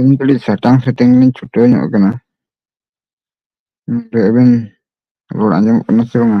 ᱤᱧ ᱠᱟᱹᱴᱤᱡ ᱥᱟᱴᱟᱝ ᱥᱟᱴᱟᱝ ᱞᱤᱧ ᱪᱷᱩᱴᱟᱹᱣ ᱧᱚᱜ ᱟᱠᱟᱱᱟ ᱱᱚᱰᱮ ᱟᱵᱮᱱ ᱨᱚᱲ ᱟᱸᱡᱚᱢᱚᱜ ᱠᱟᱱᱟ ᱥᱮ ᱵᱟᱝᱟ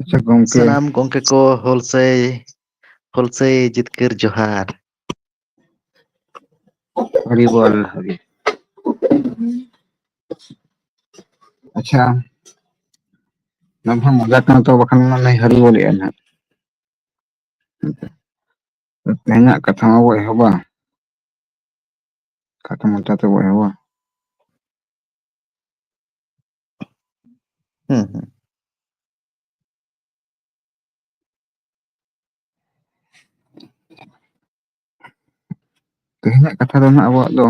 ᱟᱪᱪᱷᱟ ᱜᱚᱝᱠᱮ ᱥᱟᱱᱟᱢ ᱜᱚᱝᱠᱮ ᱠᱚ ᱦᱩᱞ ᱥᱟᱹᱭ ᱦᱩᱞ ᱥᱟᱹᱭ ᱡᱤᱛᱠᱟᱹᱨ ᱡᱚᱦᱟᱨ ᱾ ᱦᱚᱨᱤ ᱵᱚᱞ ᱦᱚᱨᱤ ᱟᱪᱪᱷᱟ ᱱᱚᱣᱟ ᱢᱟ ᱢᱚᱡᱟ ᱠᱟᱱᱟ ᱛᱚ ᱵᱟᱠᱷᱟᱱ ᱢᱟ ᱞᱟᱹᱭ ᱦᱟᱹᱨᱤ ᱵᱚᱞ ᱮᱱ ᱦᱟᱸᱜ ᱾ ᱛᱮᱦᱮᱧᱟᱜ ᱠᱟᱛᱷᱟ ᱢᱟᱵᱚ ᱮᱦᱚᱵᱟ ᱠᱷᱟᱴ ᱢᱟᱪᱟ ᱛᱮ ᱵᱚᱭᱦᱟ ᱵᱟᱝ ᱦᱩᱸ ᱦᱩᱸ ᱛᱮᱦᱮᱧᱟᱜ ᱠᱟᱛᱷᱟ ᱫᱚ ᱦᱟᱸᱜ ᱟᱵᱚᱣᱟᱜ ᱫᱚ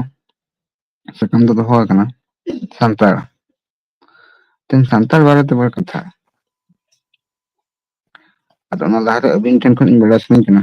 ᱥᱟᱠᱟᱢ ᱫᱚ ᱫᱚᱦᱚ ᱟᱠᱟᱱᱟ ᱥᱟᱱᱛᱟᱲ ᱛᱮᱦᱮᱧ ᱥᱟᱱᱛᱟᱲ ᱵᱟᱨᱮ ᱛᱮ ᱵᱟᱨ ᱠᱟᱛᱷᱟ ᱟᱫᱚ ᱚᱱᱟ ᱞᱟᱦᱟᱨᱮ ᱟᱹᱵᱤᱱ ᱴᱷᱮᱱ ᱠᱷᱚᱱ ᱤᱧ ᱵᱟᱲᱟᱭ ᱥᱟᱱᱟᱧ ᱠᱟᱱᱟ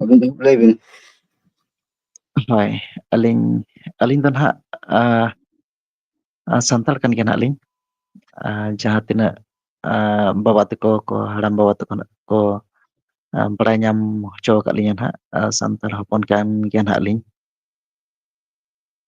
ᱟᱵᱤᱱ ᱜᱮ ᱞᱟᱹᱭ ᱵᱤᱱ ᱦᱳᱭ ᱟᱹᱞᱤᱧ ᱟᱹᱞᱤᱧ ᱫᱚ ᱱᱟᱦᱟᱜ ᱥᱟᱱᱛᱟᱲ ᱠᱟᱱ ᱜᱮᱭᱟ ᱱᱟᱦᱟᱜ ᱞᱤᱧ ᱡᱟᱦᱟᱸ ᱛᱤᱱᱟᱹᱜ ᱵᱟᱵᱟ ᱛᱟᱠᱚ ᱠᱚ ᱦᱟᱲᱟᱢ ᱵᱟᱵᱟ ᱛᱟᱠᱚ ᱱᱟᱜ ᱠᱚ ᱵᱟᱲᱟᱭ ᱧᱟᱢ ᱦᱚᱪᱚ ᱟᱠᱟᱫ ᱞᱤᱧᱟᱹ ᱱᱟᱦᱟᱜ ᱥᱟᱱᱛᱟᱲ ᱦᱚᱯᱚᱱ ᱠᱟᱱ ᱜᱮᱭᱟ ᱱᱟᱦᱟᱜ ᱞᱤᱧ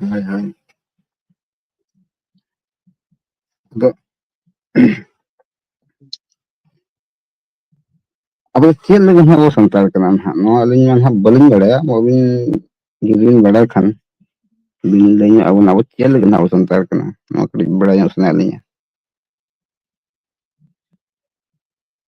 ᱦᱳᱭ ᱦᱳᱭ ᱟᱫᱚ ᱟᱵᱚ ᱪᱮᱫ ᱞᱟᱹᱜᱤᱫ ᱦᱟᱸᱜ ᱵᱚ ᱥᱟᱱᱛᱟᱲ ᱠᱟᱱᱟ ᱱᱟᱦᱟᱜ ᱱᱚᱣᱟ ᱟᱹᱞᱤᱧ ᱢᱟ ᱱᱟᱦᱟᱜ ᱵᱟᱹᱞᱤᱧ ᱵᱟᱲᱟᱭᱟ ᱟᱹᱵᱤᱱ ᱡᱩᱫᱤ ᱵᱤᱱ ᱵᱟᱲᱟᱭ ᱠᱷᱟᱱ ᱵᱤᱱ ᱞᱟᱹᱭ ᱧᱚᱜ ᱟᱵᱚᱱᱟ ᱟᱵᱚ ᱪᱮᱫ ᱞᱟᱹᱜᱤᱫ ᱱᱟᱦᱟᱜ ᱵᱚ ᱥᱟᱱᱛᱟᱲ ᱠᱟᱱᱟ ᱱᱚᱣᱟ ᱠᱟᱹᱴᱤᱡ ᱵᱟᱲᱟᱭ ᱧᱚᱜ ᱥᱟᱱᱟᱭᱮᱫ ᱞᱤᱧᱟᱹ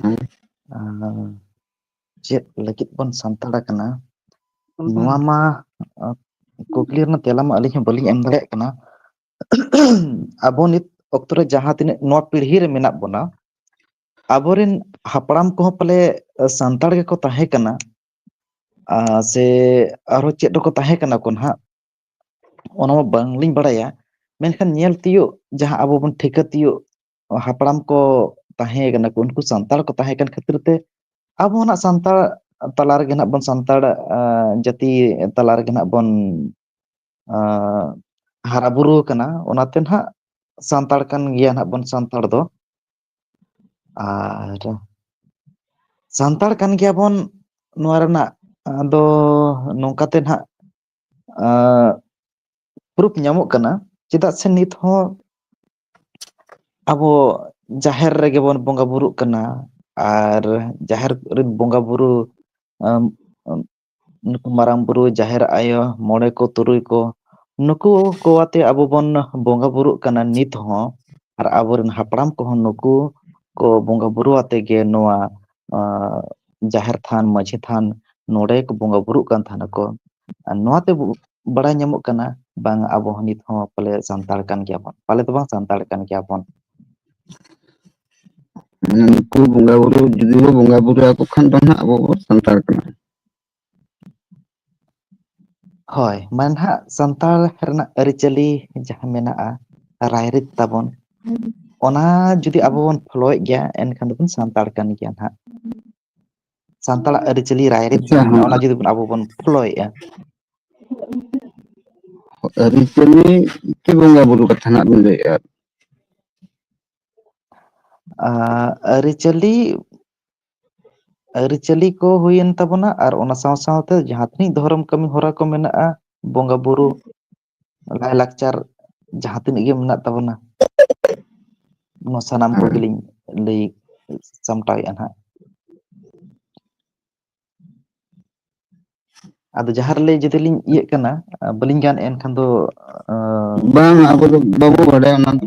ᱦᱮᱸ ᱪᱮᱫ ᱞᱟᱹᱜᱤᱫ ᱵᱚᱱ ᱥᱟᱱᱛᱟᱲ ᱟᱠᱟᱱᱟ ᱱᱚᱣᱟ ᱢᱟ ᱠᱩᱠᱞᱤ ᱨᱮᱱᱟᱜ ᱛᱮᱞᱟ ᱢᱟ ᱟᱹᱞᱤᱧ ᱦᱚᱸ ᱵᱟᱹᱞᱤᱧ ᱮᱢ ᱫᱟᱲᱮᱭᱟᱜ ᱠᱟᱱᱟ ᱟᱵᱚ ᱱᱤᱛ ᱚᱠᱛᱚ ᱨᱮ ᱡᱟᱦᱟᱸ ᱛᱤᱱᱟᱹᱜ ᱱᱚᱣᱟ ᱯᱤᱲᱦᱤ ᱨᱮ ᱢᱮᱱᱟᱜ ᱵᱚᱱᱟ ᱟᱵᱚᱨᱮᱱ ᱦᱟᱯᱲᱟᱢ ᱠᱚᱦᱚᱸ ᱯᱟᱞᱮ ᱥᱟᱱᱛᱟᱲ ᱜᱮᱠᱚ ᱛᱟᱦᱮᱸ ᱠᱟᱱᱟ ᱟᱨ ᱥᱮ ᱟᱨᱦᱚᱸ ᱪᱮᱫ ᱠᱚᱠᱚ ᱛᱟᱦᱮᱸ ᱠᱟᱱᱟ ᱠᱚ ᱱᱟᱦᱟᱜ ᱚᱱᱟ ᱢᱟ ᱵᱟᱝᱞᱤᱧ ᱵᱟᱲᱟᱭᱟ ᱢᱮᱱᱠᱷᱟᱱ ᱧᱮᱞ ᱛᱤᱭᱳᱜ ᱡᱟᱦᱟᱸ ᱟᱵᱚ ᱵᱚᱱ ᱴᱷᱤᱠᱟᱹ ᱛᱤᱭᱳᱜ ᱦᱟᱯᱲᱟᱢ ᱠᱚ ᱛᱟᱦᱮᱸ ᱠᱟᱱᱟ ᱠᱚ ᱩᱱᱠᱩ ᱥᱟᱱᱛᱟᱲ ᱠᱚ ᱛᱟᱦᱮᱸ ᱠᱟᱱ ᱠᱷᱟᱹᱛᱤᱨ ᱛᱮ ᱟᱵᱚ ᱦᱚᱸ ᱱᱟᱜ ᱥᱟᱱᱛᱟᱲ ᱛᱟᱞᱟ ᱨᱮᱜᱮ ᱱᱟᱜ ᱵᱚᱱ ᱥᱟᱱᱛᱟᱲ ᱡᱟᱹᱛᱤ ᱛᱟᱞᱟ ᱨᱮᱜᱮ ᱱᱟᱜ ᱵᱚᱱ ᱦᱟᱨᱟ ᱵᱩᱨᱩ ᱟᱠᱟᱱᱟ ᱚᱱᱟᱛᱮ ᱱᱟᱜ ᱥᱟᱱᱛᱟᱲ ᱠᱟᱱ ᱜᱮᱭᱟ ᱱᱟᱜ ᱵᱚᱱ ᱥᱟᱱᱛᱟᱲ ᱫᱚ ᱟᱨ ᱥᱟᱱᱛᱟᱲ ᱠᱟᱱ ᱜᱮᱭᱟᱵᱚᱱ ᱱᱚᱣᱟ ᱨᱮᱱᱟᱜ ᱟᱫᱚ ᱱᱚᱝᱠᱟᱛᱮ ᱱᱟᱦᱟᱜ ᱯᱩᱨᱩᱯ ᱧᱟᱢᱚᱜ ᱠᱟᱱᱟ ᱪᱮᱫᱟᱜ ᱥᱮ ᱱᱤᱛ ᱦᱚᱸ ᱟᱵᱚ ᱡᱟᱦᱮᱨ ᱨᱮᱜᱮ ᱵᱚᱱ ᱵᱚᱸᱜᱟ ᱵᱩᱨᱩᱜ ᱠᱟᱱᱟ ᱟᱨ ᱡᱟᱦᱮᱨ ᱨᱮᱱ ᱵᱚᱸᱜᱟ ᱵᱩᱨᱩ ᱟᱢ ᱟᱢ ᱱᱩᱠᱩ ᱢᱟᱨᱟᱝ ᱵᱩᱨᱩ ᱡᱟᱦᱮᱨ ᱟᱭᱳ ᱢᱚᱬᱮ ᱠᱚ ᱛᱩᱨᱩᱭ ᱠᱚ ᱱᱩᱠᱩ ᱠᱚ ᱟᱛᱮ ᱟᱵᱚ ᱵᱚᱱ ᱵᱚᱸᱜᱟ ᱵᱩᱨᱩᱜ ᱠᱟᱱᱟ ᱱᱤᱛ ᱦᱚᱸ ᱟᱨ ᱟᱵᱚᱨᱮᱱ ᱦᱟᱯᱲᱟᱢ ᱠᱚᱦᱚᱸ ᱱᱩᱠᱩ ᱠᱚ ᱵᱚᱸᱜᱟ ᱵᱩᱨᱩ ᱟᱛᱮ ᱜᱮ ᱱᱚᱣᱟ ᱟᱸ ᱡᱟᱦᱮᱨ ᱛᱷᱟᱱ ᱢᱟᱺᱡᱷᱤ ᱛᱷᱟᱱ ᱱᱚᱰᱮ ᱠᱚ ᱵᱚᱸᱜᱟ ᱵᱩᱨᱩᱜ ᱠᱟᱱ ᱛᱟᱦᱮᱱᱟᱠᱚ ᱟᱨ ᱱᱚᱣᱟ ᱛᱮᱵᱚ ᱵᱟᱲᱟᱭ ᱧᱟᱢᱚᱜ ᱠᱟᱱᱟ ᱵᱟᱝ ᱟᱵᱚ ᱦᱚᱸ ᱱᱤᱛ ᱦᱚᱸ ᱯᱟᱞᱮ ᱥᱟᱱᱛᱟᱲ ᱠᱟᱱ ᱜᱮᱭᱟ ᱵᱚᱱ ᱯᱟᱞᱮ ᱫᱚ ᱵᱟᱝ ᱥᱟᱱᱛᱟᱲ ᱠᱟᱱ ᱜᱮᱭᱟ ᱵᱚᱱ ᱢᱟᱱᱮ ᱱᱩᱠᱩ ᱵᱚᱸᱜᱟ ᱵᱩᱨᱩ ᱡᱩᱫᱤ ᱵᱚ ᱵᱚᱸᱜᱟ ᱵᱩᱨᱩ ᱟᱠᱚ ᱠᱷᱟᱱ ᱫᱚ ᱦᱟᱸᱜ ᱟᱵᱚ ᱵᱚ ᱥᱟᱱᱛᱟᱲ ᱠᱟᱱᱟ ᱦᱳᱭ ᱢᱟᱱᱮ ᱱᱟᱦᱟᱜ ᱥᱟᱱᱛᱟᱲ ᱨᱮᱱᱟᱜ ᱟᱹᱨᱤᱪᱟᱹᱞᱤ ᱡᱟᱦᱟᱸ ᱢᱮᱱᱟᱜᱼᱟ ᱨᱟᱭ ᱨᱤᱛ ᱛᱟᱵᱚᱱ ᱚᱱᱟ ᱡᱩᱫᱤ ᱟᱵᱚ ᱵᱚᱱ ᱯᱷᱳᱚᱞᱳᱭᱮᱫ ᱜᱮᱭᱟ ᱮᱱᱠᱷᱟᱱ ᱫᱚᱵᱚᱱ ᱥᱟᱱᱛᱟᱲ ᱠᱟᱱ ᱜᱮᱭᱟ ᱱᱟᱦᱟᱜ ᱥᱟᱱᱛᱟᱲᱟᱜ ᱟᱹᱨᱤᱪᱟᱹᱞᱤ ᱨᱟᱭᱨᱤᱛ ᱟᱪᱪᱷᱟ ᱡᱟᱦᱟᱸ ᱦᱮᱸ ᱢᱮᱱᱟᱜᱼᱟ ᱚᱱᱟ ᱡᱩᱫᱤ ᱵᱚᱱ ᱟᱵᱚ ᱵᱚᱱ ᱯᱷᱳᱚᱞᱳᱭᱮᱫᱼᱟ ᱟᱹᱨᱤᱪᱟᱹᱞᱤ ᱪᱮ ᱵᱚᱸᱜᱟ ᱵᱩᱨᱩ ᱠᱟᱛᱷᱟ ᱱᱟᱜ ᱵᱮᱱ ᱞᱟᱹᱭᱮᱫᱼᱟ ᱟᱹᱨᱤᱪᱟᱹᱞᱤ ᱟᱹᱨᱤᱪᱟᱹᱞᱤ ᱠᱚ ᱦᱩᱭᱮᱱ ᱛᱟᱵᱚᱱᱟ ᱟᱨ ᱚᱱᱟ ᱥᱟᱶ ᱥᱟᱶᱛᱮ ᱡᱟᱦᱟᱸ ᱛᱤᱱᱟᱹᱜ ᱫᱷᱚᱨᱚᱢ ᱠᱟᱹᱢᱤ ᱦᱚᱨᱟ ᱠᱚ ᱢᱮᱱᱟᱜᱼᱟ ᱵᱚᱸᱜᱟ ᱵᱩᱨᱩ ᱞᱟᱭ ᱞᱟᱠᱪᱟᱨ ᱡᱟᱦᱟᱸ ᱛᱤᱱᱟᱹᱜ ᱜᱮ ᱢᱮᱱᱟᱜ ᱛᱟᱵᱚᱱᱟ ᱱᱚᱣᱟ ᱥᱟᱱᱟᱢ ᱦᱮᱸ ᱠᱚᱜᱮᱞᱤᱧ ᱞᱟᱹᱭ ᱥᱟᱢᱴᱟᱣᱮᱫᱼᱟ ᱱᱟᱦᱟᱜ ᱟᱫᱚ ᱡᱟᱦᱟᱸ ᱨᱮᱞᱮ ᱡᱚᱫᱤ ᱞᱤᱧ ᱤᱭᱟᱹᱜ ᱠᱟᱱᱟ ᱵᱟᱹᱞᱤᱧ ᱜᱟᱱᱮᱫᱼᱟ ᱮᱱᱠᱷᱟᱱ ᱫᱚ ᱵᱟᱝ ᱟᱵᱚ ᱫᱚ ᱵᱟᱵᱚ ᱵᱟᱰᱟᱭᱟ ᱚᱱᱟ ᱫᱚ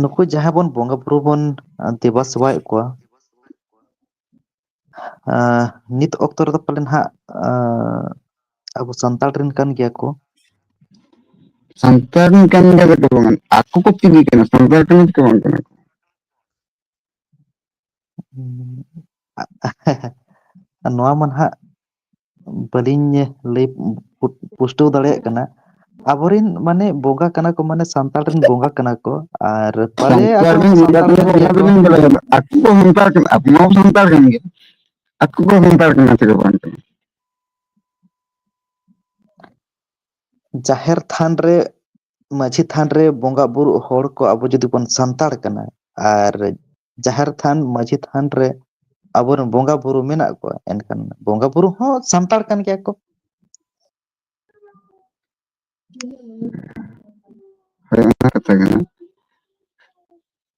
ᱱᱩᱠᱩ ᱡᱟᱦᱟᱸ ᱵᱚᱱ ᱵᱚᱸᱜᱟ ᱵᱩᱨᱩ ᱵᱚᱱ ᱫᱮᱵᱟ ᱥᱮᱵᱟᱭᱮᱫ ᱠᱚᱣᱟ ᱱᱤᱛ ᱚᱠᱛᱚ ᱨᱮᱫᱚ ᱯᱟᱞᱮᱱ ᱦᱟᱸᱜ ᱟᱵᱚ ᱥᱟᱱᱛᱟᱲ ᱨᱮᱱ ᱠᱟᱱ ᱜᱮᱭᱟ ᱠᱚ ᱥᱟᱱᱛᱟᱲ ᱨᱮᱱ ᱠᱟᱱ ᱜᱮᱭᱟ ᱠᱚ ᱵᱟᱝ ᱟᱠᱚ ᱠᱚ ᱪᱤᱞᱤ ᱠᱟᱱᱟ ᱥᱟᱱᱛᱟᱲ ᱠᱟᱱᱟ ᱠᱚ ᱵᱟᱝ ᱠᱟᱱᱟ ᱠᱚ ᱱᱚᱣᱟ ᱢᱟ ᱱᱟᱦᱟᱜ ᱵᱟᱹᱞᱤᱧ ᱞᱟᱹᱭ ᱯᱩᱥᱴᱟᱹᱣ ᱫᱟᱲᱮᱭᱟᱜ ᱠᱟᱱᱟ ᱟᱵᱚᱨᱮᱱ ᱢᱟᱱᱮ ᱵᱚᱸᱜᱟ ᱠᱟᱱᱟ ᱠᱚ ᱢᱟᱱᱮ ᱥᱟᱱᱛᱟᱲ ᱨᱮᱱ ᱵᱚᱸᱜᱟ ᱠᱟᱱᱟ ᱠᱚ ᱟᱨ ᱯᱟᱞᱮ ᱟᱠᱚ ᱦᱚᱸ ᱥᱟᱱᱛᱟᱲ ᱠᱟᱱ ᱜᱮᱭᱟ ᱠᱚ ᱟᱠᱚ ᱠᱚ ᱥᱟᱱᱛᱟᱲ ᱠᱟᱱᱟ ᱟᱵᱚ ᱢᱟ ᱥᱟᱱᱛᱟᱲ ᱠᱟᱱ ᱜᱮ ᱟᱠᱚ ᱠᱚ ᱥᱟᱱᱛᱟᱲ ᱠᱟᱱᱟ ᱥᱮ ᱵᱟᱝ ᱠᱟᱱᱟ ᱡᱟᱦᱮᱨ ᱛᱷᱟᱱ ᱨᱮ ᱢᱟᱺᱡᱷᱤ ᱛᱷᱟᱱ ᱨᱮ ᱵᱚᱸᱜᱟ ᱵᱩᱨᱩᱜ ᱦᱚᱲ ᱠᱚ ᱟᱵᱚ ᱡᱩᱫᱤ ᱵᱚᱱ ᱥᱟᱱᱛᱟᱲ ᱠᱟᱱᱟ ᱟᱨ ᱡᱟᱦᱮᱨ ᱛᱷᱟᱱ ᱢᱟᱺᱡᱷᱤ ᱛᱷᱟᱱ ᱨᱮ ᱟᱵᱚᱨᱮᱱ ᱵᱚᱸᱜᱟ ᱵᱩᱨᱩ ᱢᱮᱱᱟᱜ ᱠᱚᱣᱟ ᱮᱱᱠᱷᱟᱱ ᱵᱚᱸᱜᱟ ᱵᱩᱨᱩ ᱦᱚᱸ ᱥᱟᱱᱛᱟᱲ ᱠᱟᱱ ᱜᱮᱭᱟ ᱠᱚ ᱦᱳᱭ ᱚᱱᱟ ᱠᱟᱛᱷᱟ ᱠᱟᱱᱟ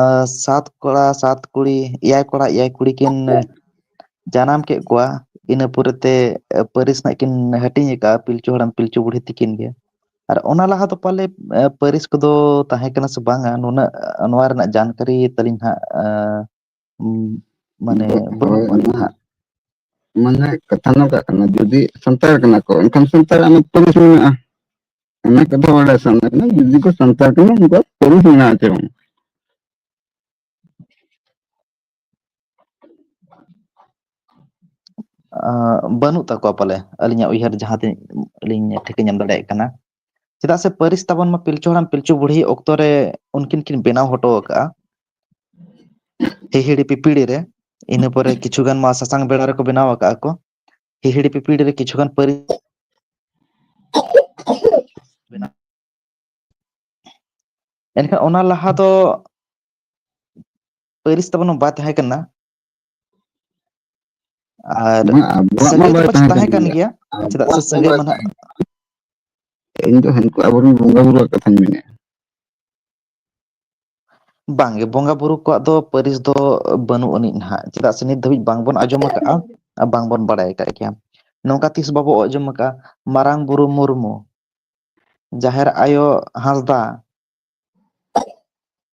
ᱟᱨ ᱥᱟᱛ ᱠᱚᱲᱟ ᱥᱟᱛ ᱠᱩᱲᱤ ᱮᱭᱟᱭ ᱠᱚᱲᱟ ᱮᱭᱟᱭ ᱠᱩᱲᱤ ᱠᱤᱱ ᱡᱟᱱᱟᱢ ᱠᱮᱫ ᱠᱚᱣᱟ ᱤᱱᱟᱹ ᱯᱚᱨᱮᱛᱮ ᱯᱟᱹᱨᱤᱥ ᱨᱮᱱᱟᱜ ᱠᱤᱱ ᱦᱟᱹᱴᱤᱧ ᱟᱠᱟᱜᱼᱟ ᱯᱤᱞᱪᱩ ᱦᱟᱲᱟᱢ ᱯᱤᱞᱪᱩ ᱵᱩᱲᱦᱤ ᱛᱤᱠᱤᱱ ᱜᱮ ᱟᱨ ᱚᱱᱟ ᱞᱟᱦᱟ ᱫᱚ ᱯᱟᱞᱮ ᱯᱟᱹᱨᱤᱥ ᱠᱚᱫᱚ ᱛᱟᱦᱮᱸ ᱠᱟᱱᱟ ᱥᱮ ᱵᱟᱝᱟ ᱱᱩᱱᱟᱹᱜ ᱱᱚᱣᱟ ᱨᱮᱱᱟᱜ ᱡᱟᱱᱠᱟᱨᱤ ᱛᱟᱹᱞᱤᱧ ᱦᱟᱸᱜ ᱢᱟᱱᱮ ᱦᱳᱭ ᱵᱟᱹᱱᱩᱜᱼᱟ ᱚᱱᱟ ᱦᱟᱸᱜ ᱢᱟᱱᱮ ᱠᱟᱛᱷᱟ ᱱᱚᱝᱠᱟᱜ ᱠᱟᱱᱟ ᱡᱩᱫᱤ ᱥᱟᱱᱛᱟᱲ ᱠᱟᱱᱟ ᱠᱚ ᱮᱱᱠᱷᱟᱱ ᱥᱟᱱᱛᱟᱲ ᱟᱜ ᱯᱟᱹᱨᱤᱥ ᱢᱮᱱᱟᱜᱼᱟ ᱚᱱᱟ ᱠᱟᱛᱷᱟ ᱵᱟᱲᱟᱭ ᱥᱟᱱᱟ ᱠᱟᱱᱟ ᱡᱩᱫᱤ ᱠᱚ ᱥᱟᱱᱛᱟᱲ ᱠᱟᱱᱟ ᱩᱱᱠᱩᱣᱟᱜ ᱯᱟᱹᱨᱤᱥ ᱢᱮᱱᱟᱜ ᱟᱥᱮ ᱵᱟᱝ ᱵᱟᱹᱱᱩᱜ ᱛᱟᱠᱚᱣᱟ ᱯᱟᱞᱮ ᱟᱹᱞᱤᱧᱟᱜ ᱩᱭᱦᱟᱹᱨ ᱡᱟᱦᱟᱸ ᱛᱤᱱᱟᱹᱜ ᱟᱹᱞᱤᱧ ᱴᱷᱤᱠᱟᱹ ᱧᱟᱢ ᱫᱟᱲᱮᱭᱟᱜ ᱠᱟᱱᱟ ᱪᱮᱫᱟᱜ ᱥᱮ ᱯᱟᱹᱨᱤᱥ ᱛᱟᱵᱚᱱ ᱢᱟ ᱯᱤᱞᱪᱩ ᱦᱟᱲᱟᱢ ᱯᱤᱞᱪᱩ ᱵᱩᱲᱦᱤ ᱚᱠᱛᱚ ᱨᱮ ᱩᱱᱠᱤᱱ ᱠᱤᱱ ᱵᱮᱱᱟᱣ ᱦᱚᱴᱚ ᱟᱠᱟᱫᱼᱟ ᱦᱤᱦᱤᱲᱤ ᱯᱤᱯᱤᱲᱤ ᱨᱮ ᱤᱱᱟᱹ ᱯᱚᱨᱮ ᱠᱤᱪᱷᱩ ᱜᱟᱱ ᱢᱟ ᱥᱟᱥᱟᱝ ᱵᱮᱲᱟ ᱨᱮᱠᱚ ᱵᱮᱱᱟᱣ ᱟᱠᱟᱜᱼᱟ ᱠᱚ ᱦᱤᱦᱤᱲᱤ ᱯᱤᱯᱤᱲᱤ ᱨᱮ ᱠᱤᱪᱷᱩ ᱜᱟᱱ ᱯᱟᱹᱨᱤᱥ ᱵᱮᱱᱟᱣ ᱮᱱᱠᱷᱟᱱ ᱚᱱᱟ ᱞᱟᱦᱟ ᱫᱚ ᱯᱟᱹᱨᱤᱥ ᱛᱟᱵᱚᱱ ᱢᱟ ᱵᱟᱭ ᱛᱟᱦᱮᱸ ᱠᱟᱱᱟ ᱟᱨ ᱵᱟᱝ ᱟᱵᱚᱣᱟᱜ ᱢᱟ ᱥᱟᱹᱜᱟᱹᱭ ᱫᱚ ᱵᱟᱭ ᱯᱟᱪᱮ ᱛᱟᱦᱮᱸ ᱠᱟᱱ ᱜᱮᱭᱟ ᱪᱮᱫᱟᱜ ᱥᱮ ᱟᱵᱚᱣᱟᱜ ᱢᱟ ᱥᱟᱹᱜᱟᱹᱭ ᱵᱟᱭ ᱢᱟᱱᱟᱜ ᱛᱟᱦᱮᱸ ᱠᱟᱱᱟ ᱤᱧ ᱫᱚ ᱦᱟᱹᱱᱠᱩ ᱟᱵᱚᱨᱮᱱ ᱵᱚᱸᱜᱟ ᱵᱩᱨᱩᱣᱟᱜ ᱠᱟᱛᱷᱟᱧ ᱢᱮᱱᱮᱫᱼᱟ ᱵᱟᱝᱜᱮ ᱵᱚᱸᱜᱟ ᱵᱩᱨᱩ ᱠᱚᱣᱟᱜ ᱫᱚ ᱯᱟᱹᱨᱤᱥ ᱫᱚ ᱵᱟᱹᱱᱩᱜ ᱟᱹᱱᱤᱡ ᱱᱟᱦᱟᱜ ᱪᱮᱫᱟᱜ ᱥᱮ ᱱᱤᱛ ᱫᱷᱟᱹᱵᱤᱡ ᱵᱟᱝᱵᱚᱱ ᱟᱸᱡᱚᱢ ᱟᱠᱟᱜᱼᱟ ᱟᱨ ᱵᱟᱝᱵᱚᱱ ᱵᱟᱲᱟᱭ ᱟᱠᱟᱫ ᱜᱮᱭᱟ ᱱᱚᱝᱠᱟ ᱛᱤᱥ ᱵᱟᱵᱚ ᱟᱸᱡᱚᱢ ᱟᱠᱟᱫᱼᱟ ᱢᱟᱨᱟᱝ ᱵᱩᱨᱩ ᱢᱩᱨᱢᱩ ᱡᱟᱦᱮᱨ ᱟᱭᱳ ᱦᱟᱸᱥᱫᱟ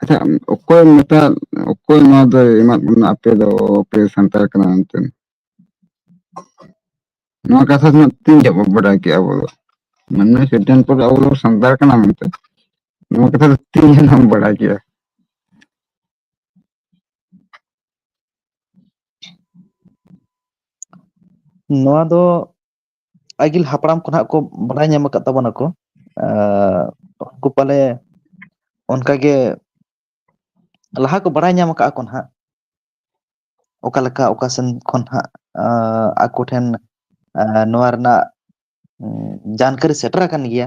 ᱟᱪᱪᱷᱟ ᱚᱠᱚᱭ ᱢᱮᱛᱟ ᱚᱠᱚᱭ ᱱᱚᱣᱟ ᱫᱚᱭ ᱮᱢᱟᱫ ᱵᱚᱱᱟ ᱟᱯᱮ ᱫᱚ ᱟᱯᱮ ᱥᱟᱱᱛᱟᱲ ᱠᱟᱱᱟ ᱢᱮᱱᱛᱮ ᱱᱚᱣᱟ ᱠᱟᱛᱷᱟ ᱫᱚ ᱛᱤᱱ ᱡᱚᱜ ᱵᱚᱱ ᱵᱟᱰᱟᱭ ᱠᱮᱜᱼᱟ ᱟᱵᱚ ᱫᱚ ᱢᱟᱱᱮ ᱥᱤᱫᱷᱟᱱᱛ ᱫᱚ ᱟᱵᱚ ᱫᱚ ᱥᱟᱱᱛᱟᱲ ᱠᱟᱱᱟ ᱢᱮᱱᱛᱮ ᱱᱚᱣᱟ ᱠᱟᱛᱷᱟ ᱫᱚ ᱛᱤᱱ ᱡᱚᱱ ᱮᱢ ᱵᱟᱰᱟᱭ ᱠᱮᱜᱼᱟ ᱱᱚᱣᱟ ᱫᱚ ᱟᱹᱜᱤᱞ ᱦᱟᱯᱲᱟᱢ ᱠᱷᱚᱱᱟᱜ ᱠᱚ ᱵᱟᱲᱟᱭ ᱧᱟᱢ ᱟᱠᱟᱫ ᱛᱟᱵᱚᱱᱟᱠᱚ ᱩᱱᱠᱩ ᱯᱟᱞᱮ ᱚᱱᱠᱟ ᱜᱮ ᱞᱟᱦᱟ ᱠᱚ ᱵᱟᱲᱟᱭ ᱧᱟᱢ ᱟᱠᱟᱜ ᱟᱠᱚ ᱱᱟᱦᱟᱜ ᱚᱠᱟ ᱞᱮᱠᱟ ᱚᱠᱟ ᱥᱮᱱ ᱠᱷᱚᱱ ᱦᱟᱸᱜ ᱟᱠᱚ ᱴᱷᱮᱱ ᱱᱚᱣᱟ ᱨᱮᱱᱟᱜ ᱡᱟᱱᱠᱟᱨᱤ ᱥᱮᱴᱮᱨ ᱟᱠᱟᱱ ᱜᱮᱭᱟ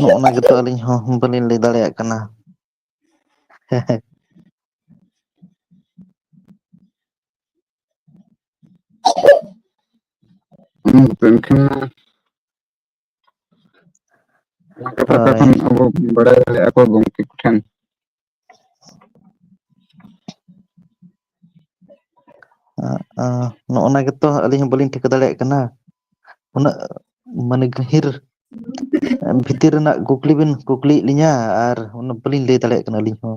ᱱᱚᱜ ᱚᱱᱟ ᱜᱮᱛᱚ ᱟᱹᱞᱤᱧ ᱦᱚᱸ ᱵᱟᱹᱞᱤᱧ ᱞᱟᱹᱭ ᱫᱟᱲᱮᱭᱟᱜ ᱠᱟᱱᱟ ᱦᱮᱸ ᱦᱮᱸ ᱦᱩᱸ ᱛᱮᱦᱮᱧ ᱠᱷᱟᱱ ᱢᱟ ᱡᱟᱦᱟᱸ ᱠᱟᱛᱷᱟ ᱦᱳᱭ ᱛᱚᱠᱷᱚᱱ ᱟᱵᱚ ᱵᱟᱲᱟᱭ ᱫᱟᱲᱮᱭᱟᱜᱼᱟ ᱠᱚ ᱜᱚᱝᱠᱮ ᱠᱚᱴᱷᱮᱱ ᱱᱚᱜᱼ ᱱᱟ ᱜᱮᱛᱚ ᱟᱹᱞᱤᱧ ᱦᱚᱸ ᱵᱟᱹᱞᱤᱧ ᱴᱷᱤᱠᱟᱹ ᱫᱟᱲᱮᱭᱟᱜ ᱠᱟᱱᱟ ᱩᱱᱟᱹᱜ ᱢᱟᱱᱮ ᱜᱟᱹᱦᱤᱨ ᱵᱷᱤᱛᱤᱨ ᱨᱮᱱᱟᱜ ᱠᱩᱠᱞᱤ ᱵᱤᱱ ᱠᱩᱠᱞᱤᱭᱮᱫ ᱞᱤᱧᱟᱹ ᱟᱨ ᱚᱱᱟ ᱵᱟᱹᱞᱤᱧ ᱞᱟᱹᱭ ᱫᱟᱲᱮᱭᱟᱜ ᱠᱟᱱᱟ ᱟᱹᱞᱤᱧ ᱦᱚᱸ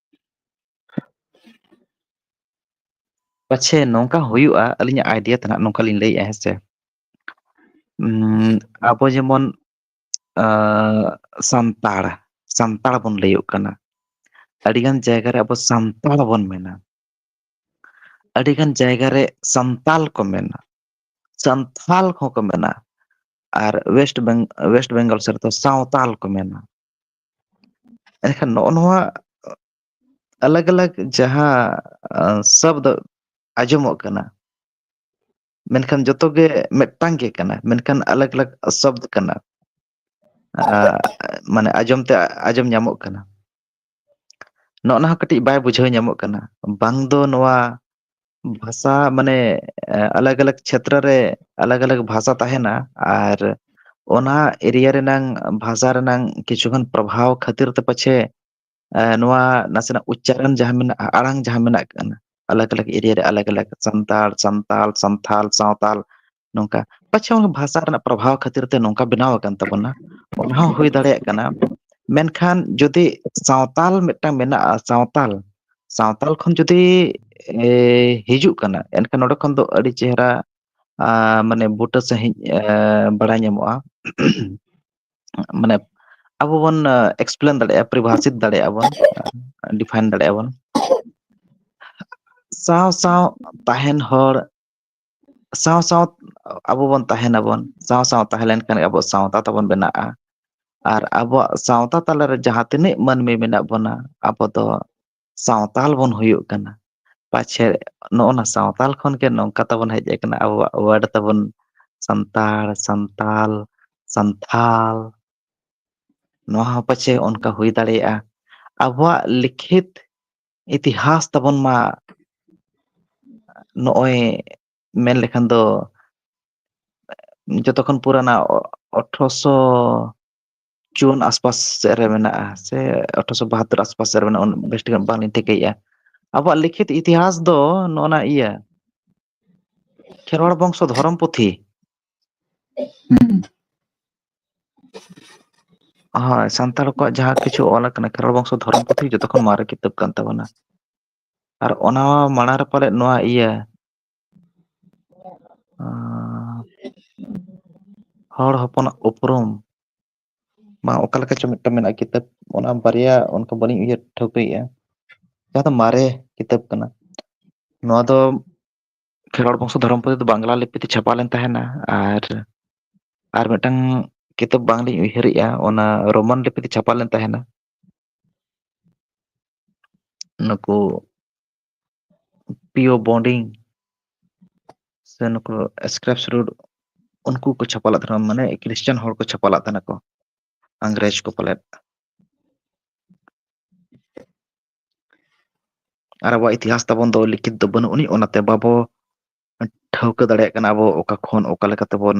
ᱯᱟᱪᱷᱮ ᱱᱚᱝᱠᱟ ᱦᱩᱭᱩᱜᱼᱟ ᱟᱹᱞᱤᱧᱟᱜ ᱟᱭᱰᱤᱭᱟ ᱛᱮ ᱱᱟᱦᱟᱜ ᱱᱚᱝᱠᱟ ᱞᱤᱧ ᱞᱟᱹᱭᱮᱜᱼᱟ ᱦᱮᱸ ᱥᱮ ᱩᱸ ᱟᱵᱚ ᱡᱮᱢᱚᱱ ᱟᱻ ᱥᱟᱱᱛᱟᱲ ᱥᱟᱱᱛᱟᱲ ᱵᱚᱱ ᱞᱟᱹᱭᱚᱜ ᱠᱟᱱᱟ ᱟᱹᱰᱤ ᱜᱟᱱ ᱡᱟᱭᱜᱟ ᱨᱮ ᱟᱵᱚ ᱥᱟᱱᱛᱟᱲ ᱵᱚᱱ ᱢᱮᱱᱟ ᱟᱹᱰᱤ ᱜᱟᱱ ᱡᱟᱭᱜᱟ ᱨᱮ ᱥᱟᱱᱛᱟᱞ ᱠᱚ ᱢᱮᱱᱟ ᱥᱟᱱᱛᱷᱟᱞ ᱠᱚᱦᱚᱸ ᱠᱚ ᱢᱮᱱᱟ ᱟᱨ ᱚᱭᱮᱥᱴ ᱵᱮᱝ ᱚᱭᱮᱥᱴ ᱵᱮᱝᱜᱚᱞ ᱥᱮᱫ ᱨᱮᱫᱚ ᱥᱟᱶᱛᱟᱞ ᱠᱚ ᱢᱮᱱᱟ ᱮᱱᱠᱷᱟᱱ ᱱᱚᱜᱼᱚ ᱱᱚᱣᱟ ᱟᱞᱟᱜᱽ ᱟᱞᱟᱜᱽ ᱡᱟᱦᱟᱸ ᱥᱟᱵᱫᱚ ᱟᱸᱡᱚᱢᱚᱜ ᱠᱟᱱᱟ ᱢᱮᱱᱠᱷᱟᱱ ᱡᱚᱛᱚ ᱜᱮ ᱢᱤᱫᱴᱟᱝ ᱜᱮ ᱠᱟᱱᱟ ᱢᱮᱱᱠᱷᱟᱱ ᱟᱞᱟᱜᱽ ᱟᱞᱟᱜᱽ ᱥᱚᱵᱽᱫ ᱠᱟᱱᱟ ᱢᱟᱱᱮ ᱟᱸᱡᱚᱢ ᱛᱮ ᱟᱸᱡᱚᱢ ᱧᱟᱢᱚᱜ ᱠᱟᱱᱟ ᱱᱚᱜᱼ ᱱᱟ ᱦᱚᱸ ᱠᱟᱹᱴᱤᱡ ᱵᱟᱭ ᱵᱩᱡᱷᱟᱹᱣ ᱧᱟᱢᱚᱜ ᱠᱟᱱᱟ ᱵᱟᱝ ᱫᱚ ᱱᱚᱣᱟ ᱵᱷᱟᱥᱟ ᱢᱟᱱᱮ ᱟᱞᱟᱜᱽ ᱟᱞᱟᱜᱽ ᱪᱷᱮᱛᱨᱚ ᱨᱮ ᱟᱞᱟᱜᱽ ᱟᱞᱟᱜᱽ ᱵᱷᱟᱥᱟ ᱛᱟᱦᱮᱱᱟ ᱟᱨ ᱚᱱᱟ ᱮᱨᱤᱭᱟ ᱨᱮᱱᱟᱝ ᱵᱷᱟᱥᱟ ᱨᱮᱱᱟᱝ ᱠᱤᱪᱷᱩᱜᱟᱱ ᱯᱨᱚᱵᱷᱟᱵᱽ ᱠᱷᱟᱹᱛᱤᱨ ᱛᱮ ᱯᱟᱪᱷᱮ ᱱᱚᱣᱟ ᱱᱟᱥᱮᱱᱟᱜ ᱩᱪᱪᱟᱨᱚᱱ ᱡᱟᱦᱟᱸ ᱢᱮᱱᱟᱜᱼᱟ ᱟᱲᱟᱝ ᱡᱟᱦᱟᱸ ᱢᱮᱱᱟᱜ ᱟᱞᱟᱜᱽ ᱟᱞᱟᱜᱽ ᱮᱨᱤᱭᱟ ᱨᱮ ᱟᱞᱟᱜᱽ ᱟᱞᱟᱜᱽ ᱥᱟᱱᱛᱟᱲ ᱥᱟᱱᱛᱟᱞ ᱥᱟᱱᱛᱷᱟᱞ ᱥᱟᱶᱛᱟᱞ ᱱᱚᱝᱠᱟ ᱯᱟᱪᱷᱮ ᱵᱷᱟᱥᱟ ᱨᱮᱱᱟᱜ ᱯᱨᱚᱵᱷᱟᱵᱽ ᱠᱷᱟᱹᱛᱤᱨ ᱛᱮ ᱱᱚᱝᱠᱟ ᱵᱮᱱᱟᱣ ᱟᱠᱟᱱ ᱛᱟᱵᱚᱱᱟ ᱚᱱᱟ ᱦᱚᱸ ᱦᱩᱭ ᱫᱟᱲᱮᱭᱟᱜ ᱠᱟᱱᱟ ᱢᱮᱱᱠᱷᱟᱱ ᱡᱩᱫᱤ ᱥᱟᱶᱛᱟᱞ ᱢᱤᱫᱴᱟᱝ ᱢᱮᱱᱟᱜᱼᱟ ᱥᱟᱶᱛᱟᱞ ᱥᱟᱶᱛᱟᱞ ᱠᱷᱚᱱ ᱡᱩᱫᱤ ᱮ ᱦᱤᱡᱩᱜ ᱠᱟᱱᱟ ᱮᱱᱠᱷᱟᱱ ᱱᱚᱸᱰᱮ ᱠᱷᱚᱱ ᱫᱚ ᱟᱹᱰᱤ ᱪᱮᱦᱨᱟ ᱢᱟᱱᱮ ᱵᱩᱴᱟᱹ ᱥᱟᱺᱦᱤᱡ ᱵᱟᱲᱟᱭ ᱧᱟᱢᱚᱜᱼᱟ ᱢᱟᱱᱮ ᱟᱵᱚ ᱵᱚᱱ ᱮᱠᱥᱯᱞᱮᱱ ᱫᱟᱲᱮᱭᱟᱜᱼᱟ ᱯᱚᱨᱤᱵᱷᱟᱥᱤᱛ ᱫᱟᱲᱮᱭᱟᱜᱼᱟ ᱵᱚᱱ ᱰᱤᱯᱷᱟᱭᱤᱱ ᱫᱟᱲᱮᱭᱟᱜᱼᱟ ᱵᱚᱱ ᱥᱟᱶ ᱥᱟᱶ ᱛᱟᱦᱮᱱ ᱦᱚᱲ ᱥᱟᱶ ᱥᱟᱶ ᱟᱵᱚ ᱵᱚᱱ ᱛᱟᱦᱮᱱᱟᱵᱚᱱ ᱥᱟᱶ ᱥᱟᱶ ᱛᱟᱦᱮᱸ ᱞᱮᱱᱠᱷᱟᱱ ᱜᱮ ᱟᱵᱚᱣᱟᱜ ᱥᱟᱶᱛᱟ ᱛᱟᱵᱚᱱ ᱵᱮᱱᱟᱜᱼᱟ ᱟᱨ ᱟᱵᱚᱣᱟᱜ ᱥᱟᱶᱛᱟ ᱛᱟᱞᱟᱨᱮ ᱡᱟᱦᱟᱸ ᱛᱤᱱᱟᱹᱜ ᱢᱟᱹᱱᱢᱤ ᱢᱮᱱᱟᱜ ᱵᱚᱱᱟ ᱟᱵᱚ ᱫᱚ ᱥᱟᱶᱛᱟᱞ ᱵᱚᱱ ᱦᱩᱭᱩᱜ ᱠᱟᱱᱟ ᱯᱟᱪᱷᱮ ᱱᱚᱜᱼᱚ ᱱᱟ ᱥᱟᱶᱛᱟᱞ ᱠᱷᱚᱱ ᱜᱮ ᱱᱚᱝᱠᱟ ᱛᱟᱵᱚᱱ ᱦᱮᱡ ᱟᱠᱟᱱᱟ ᱟᱵᱚᱣᱟᱜ ᱣᱟᱨᱰ ᱛᱟᱵᱚᱱ ᱥᱟᱱᱛᱟᱲ ᱥᱟᱱᱛᱟᱞ ᱥᱟᱱᱛᱷᱟᱞ ᱱᱚᱣᱟ ᱦᱚᱸ ᱯᱟᱪᱷᱮ ᱚᱱᱠᱟ ᱦᱩᱭ ᱫᱟᱲᱮᱭᱟᱜᱼᱟ ᱟᱵᱚᱣᱟᱜ ᱞᱤᱠᱷᱤᱛ ᱤᱛᱤᱦᱟᱥ ᱛᱟᱵᱚᱱ ᱢᱟ ᱱᱚᱜᱼᱚᱭ ᱢᱮᱱ ᱞᱮᱠᱷᱟᱱ ᱫᱚ ᱡᱚᱛᱚ ᱠᱷᱚᱱ ᱯᱩᱨᱟᱱᱟ ᱟᱴᱷᱨᱚᱥᱚ ᱡᱩᱱ ᱟᱥᱯᱟᱥ ᱥᱮᱫ ᱨᱮ ᱢᱮᱱᱟᱜᱼᱟ ᱥᱮ ᱟᱴᱷᱨᱚᱥᱚ ᱵᱟᱦᱟᱛᱚᱨ ᱟᱥᱯᱟᱥ ᱥᱮᱫ ᱨᱮ ᱢᱮᱱᱟᱜᱼᱟ ᱵᱮᱥ ᱴᱷᱤᱠ ᱵᱟᱝᱞᱤᱧ ᱴᱷᱤᱠᱟᱹᱭᱮᱫᱼᱟ ᱟᱵᱚᱣᱟᱜ ᱞᱤᱠᱷᱤᱛ ᱤᱛᱤᱦᱟᱥ ᱫᱚ ᱱᱚᱜᱼᱚ ᱱᱟ ᱤᱭᱟᱹ ᱠᱷᱮᱨᱣᱟᱲ ᱵᱚᱝᱥᱚ ᱫᱷᱚᱨᱚᱢ ᱯᱩᱛᱷᱤ ᱦᱩᱸ ᱦᱳᱭ ᱥᱟᱱᱛᱟᱲ ᱠᱚᱣᱟᱜ ᱡᱟᱦᱟᱸ ᱠᱤᱪᱷᱩ ᱚᱞ ᱟᱠᱟᱱᱟ ᱠᱷᱮᱨᱣᱟᱲ ᱵᱚᱝᱥᱚ ᱫᱷᱚᱨᱚᱢ ᱯᱩᱛᱷᱤ ᱡᱚᱛᱚ ᱠᱷᱚᱱ ᱢᱟᱨᱮ ᱠᱤᱛᱟᱹᱵ ᱠᱟᱱ ᱛᱟᱵᱚᱱᱟ ᱟᱨ ᱚᱱᱟ ᱢᱟᱲᱟᱝ ᱨᱮ ᱯᱟᱞᱮᱫ ᱱᱚᱣᱟ ᱤᱭᱟᱹ ᱦᱚᱲ ᱦᱚᱯᱚᱱᱟᱜ ᱩᱯᱨᱩᱢ ᱢᱟ ᱚᱠᱟ ᱞᱮᱠᱟ ᱪᱚ ᱢᱤᱫᱴᱟᱝ ᱢᱮᱱᱟᱜᱼᱟ ᱠᱤᱛᱟᱹᱵ ᱚᱱᱟ ᱵᱟᱨᱭᱟ ᱚᱱᱠᱟ ᱵᱟᱹᱞᱤᱧ ᱩᱭᱦᱟᱹᱨ ᱴᱷᱟᱹᱣᱠᱟᱹᱭᱮᱫᱼᱟ ᱡᱟᱦᱟᱸ ᱫᱚ ᱢᱟᱨᱮ ᱠᱤᱛᱟᱹᱵ ᱠᱟᱱᱟ ᱱᱚᱣᱟ ᱫᱚ ᱠᱷᱮᱨᱣᱟᱲ ᱵᱚᱝᱥᱚ ᱫᱷᱚᱨᱚᱢ ᱯᱩᱛᱷᱤ ᱫᱚ ᱵᱟᱝᱞᱟ ᱞᱤᱯᱤ ᱛᱮ ᱪᱷᱟᱯᱟ ᱞᱮᱱ ᱛᱟᱦᱮᱱᱟ ᱟᱨ ᱟᱨ ᱢᱤᱫᱴᱟᱝ ᱠᱤᱛᱟᱹᱵ ᱵᱟᱝᱞᱤᱧ ᱩᱭᱦᱟᱹᱨᱮᱜᱼᱟ ᱚᱱᱟ ᱨᱳᱢᱟᱱ ᱞᱤᱯᱤ ᱛᱮ ᱪᱷᱟᱯᱟ ᱞᱮᱱ ᱛᱟᱦᱮᱱᱟ ᱱᱩᱠᱩ ᱯᱤᱭᱳ ᱵᱳᱰᱤᱝ ᱥᱮ ᱱᱩᱠᱩ ᱥᱠᱨᱮᱯ ᱥᱤᱰᱩᱰ ᱩᱱᱠᱩ ᱠᱚ ᱪᱷᱟᱯᱟ ᱞᱮᱫ ᱛᱟᱦᱮᱱᱟ ᱢᱟᱱᱮ ᱠᱷᱨᱤᱥᱴᱟᱱ ᱦᱚᱲ ᱠᱚ ᱪᱷᱟᱯᱟ ᱞᱮᱫ ᱛᱟᱦᱮᱱᱟ ᱠᱚ ᱤᱝᱨᱮᱡᱽ ᱠᱚ ᱯᱟᱞᱮᱫ ᱟᱨ ᱟᱵᱚᱣᱟᱜ ᱤᱛᱤᱦᱟᱥ ᱛᱟᱵᱚᱱ ᱫᱚ ᱞᱤᱠᱷᱤᱛ ᱫᱚ ᱵᱟᱹᱱᱩᱜ ᱟᱹᱱᱤᱡ ᱚᱱᱟᱛᱮ ᱵᱟᱵᱚ ᱴᱷᱟᱹᱣᱠᱟᱹ ᱫᱟᱲᱮᱭᱟᱜ ᱠᱟᱱᱟ ᱟᱵᱚ ᱚᱠᱟ ᱠᱷᱚᱱ ᱚᱠᱟ ᱞᱮᱠᱟ ᱛᱮᱵᱚᱱ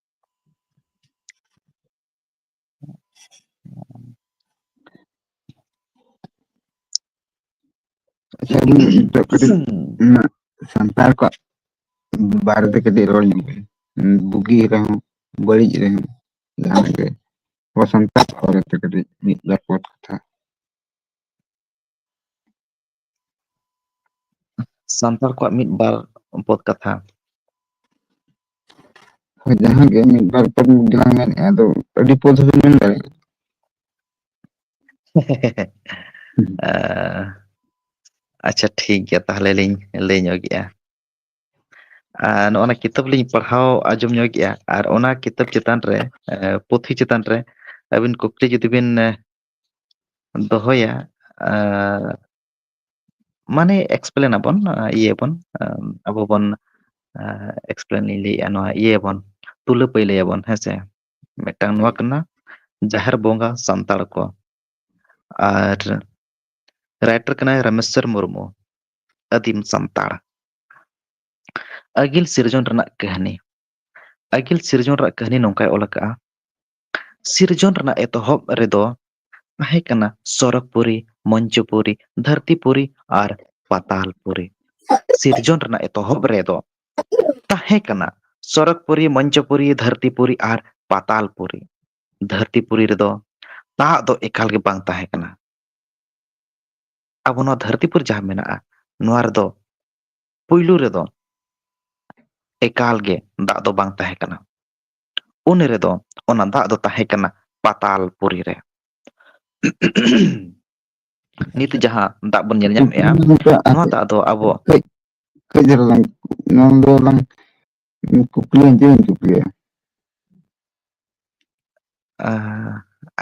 ᱥᱟᱱᱛᱟᱲ ᱠᱚᱣᱟᱜ ᱵᱟᱨᱮ ᱛᱮ ᱠᱟᱹᱴᱤᱡ ᱨᱚᱲ ᱧᱚᱜ ᱵᱤᱱ ᱵᱩᱜᱤ ᱨᱮᱦᱚᱸ ᱵᱟᱹᱲᱤᱡ ᱨᱮᱦᱚᱸ ᱡᱟᱦᱟᱸ ᱜᱮ ᱟᱵᱚ ᱥᱟᱱᱛᱟᱲ ᱠᱚ ᱵᱟᱨᱮ ᱛᱮ ᱠᱟᱹᱴᱤᱡ ᱢᱤᱫ ᱵᱟᱨ ᱯᱚᱫ ᱠᱟᱛᱷᱟ ᱥᱟᱱᱛᱟᱲ ᱠᱚᱣᱟᱜ ᱢᱤᱫ ᱵᱟᱨ ᱵᱚᱫ ᱠᱟᱛᱷᱟ ᱦᱳᱭ ᱡᱟᱦᱟᱸ ᱜᱮ ᱢᱤᱫ ᱵᱟᱨ ᱯᱚᱫ ᱜᱮᱞᱟᱝ ᱢᱮᱱᱮᱫᱼᱟ ᱟᱫᱚ ᱟᱹᱰᱤ ᱯᱚᱫ ᱦᱚᱸᱵᱤᱱ ᱢᱮᱱ ᱫᱟᱲᱮᱭᱟᱜᱼᱟ ᱟᱪᱪᱷᱟ ᱴᱷᱤᱠ ᱜᱮᱭᱟ ᱛᱟᱦᱚᱞᱮ ᱞᱤᱧ ᱞᱟᱹᱭ ᱧᱚᱜᱮᱜᱼᱟ ᱟᱨ ᱱᱚᱜᱼ ᱱᱚᱣᱟ ᱠᱤᱛᱟᱹᱵ ᱞᱤᱧ ᱯᱟᱲᱦᱟᱣ ᱟᱸᱡᱚᱢ ᱧᱚᱜ ᱮᱼᱟ ᱟᱨ ᱚᱱᱟ ᱠᱤᱛᱟᱹᱵ ᱪᱮᱛᱟᱱ ᱨᱮ ᱯᱩᱛᱷᱤ ᱪᱮᱛᱟᱱ ᱨᱮ ᱟᱹᱵᱤᱱ ᱠᱩᱠᱞᱤ ᱡᱩᱫᱤ ᱵᱤᱱ ᱫᱚᱦᱚᱭᱟ ᱟᱨ ᱢᱟᱱᱮ ᱮᱠᱥᱯᱞᱮᱱ ᱟᱵᱚᱱ ᱤᱭᱟᱹ ᱟᱵᱚᱱ ᱟᱵᱚ ᱵᱚᱱ ᱮᱠᱥᱯᱞᱮᱱ ᱤᱧ ᱞᱟᱹᱭᱮᱜᱼᱟ ᱱᱚᱣᱟ ᱤᱭᱟᱹᱭᱟᱵᱚᱱ ᱛᱩᱞᱟᱹ ᱯᱟᱹᱭᱞᱟᱹᱭᱟᱵᱚᱱ ᱦᱮᱸᱥᱮ ᱢᱤᱫᱴᱟᱝ ᱱᱚᱣᱟ ᱦᱳᱭ ᱠᱟᱱᱟ ᱡᱟᱦᱮᱨ ᱵᱚᱸᱜᱟ ᱥᱟᱱᱛᱟᱲ ᱠᱚ ᱟᱨ ᱨᱟᱭᱴᱟᱨ ᱠᱟᱱᱟᱭ ᱨᱟᱢᱮᱥᱥᱚᱨ ᱢᱩᱨᱢᱩ ᱟᱹᱫᱤᱢ ᱥᱟᱱᱛᱟᱲ ᱟᱹᱜᱤᱞ ᱥᱤᱨᱡᱚᱱ ᱨᱮᱱᱟᱜ ᱠᱟᱹᱦᱱᱤ ᱟᱹᱜᱤᱞ ᱥᱤᱨᱡᱚᱱ ᱨᱮᱭᱟᱜ ᱠᱟᱹᱦᱱᱤ ᱱᱚᱝᱠᱟᱭ ᱚᱞ ᱟᱠᱟᱫᱼᱟ ᱥᱤᱨᱡᱚᱱ ᱨᱮᱱᱟᱜ ᱮᱛᱚᱦᱚᱵ ᱨᱮᱫᱚ ᱛᱟᱦᱮᱸ ᱠᱟᱱᱟ ᱥᱚᱨᱚᱜᱽᱯᱩᱨᱤ, ᱢᱚᱧᱪᱚᱯᱩᱨᱤ, ᱫᱷᱟᱹᱨᱛᱤᱯᱩᱨᱤ ᱟᱨ ᱯᱟᱛᱟᱞᱯᱩᱨᱤ᱾ ᱥᱤᱨᱡᱚᱱ ᱨᱮᱱᱟᱜ ᱮᱛᱚᱦᱚᱵ ᱨᱮᱫᱚ ᱛᱟᱦᱮᱸ ᱠᱟᱱᱟ ᱥᱚᱨᱚᱜᱽᱯᱩᱨᱤ, ᱢᱚᱧᱪᱚᱯᱩᱨᱤ, ᱫᱷᱟᱹᱨᱛᱤᱯᱩᱨᱤ ᱟᱨ ᱯᱟᱛᱟᱞᱯᱩᱨᱤ᱾ ᱫᱷᱟᱹᱨᱛᱤᱯᱩᱨᱤ ᱨᱮᱫᱚ ᱫᱟᱜ ᱫᱚ ᱮᱠᱟᱞ ᱜᱮ ᱵᱟᱝ ᱛᱟᱦᱮᱸ ᱠᱟᱱᱟ᱾ ᱟᱵᱚ ᱱᱚᱣᱟ ᱫᱷᱟᱹᱨᱛᱤᱯᱩᱨᱤ ᱡᱟᱦᱟᱸ ᱢᱮᱱᱟᱜᱼᱟ ᱱᱚᱣᱟ ᱨᱮᱫᱚ ᱯᱩᱭᱞᱩ ᱨᱮᱫᱚ ᱮᱠᱟᱞ ᱜᱮ ᱫᱟᱜ ᱫᱚ ᱵᱟᱝ ᱛᱟᱦᱮᱸ ᱠᱟᱱᱟ᱾ ᱩᱱ ᱨᱮᱫᱚ ᱚᱱᱟ ᱫᱟᱜ ᱫᱚ ᱛᱟᱦᱮᱸ ᱠᱟᱱᱟ ᱯᱟᱛᱟᱞ ᱯᱩᱨᱤ ᱨᱮ ᱱᱤᱛ ᱟᱪᱪᱷᱟ ᱡᱟᱦᱟᱸ ᱫᱟᱜ ᱵᱚᱱ ᱧᱮᱞ ᱧᱟᱢᱮᱫᱼᱟ ᱱᱚᱣᱟ ᱫᱟᱜ ᱫᱚ ᱟᱵᱚ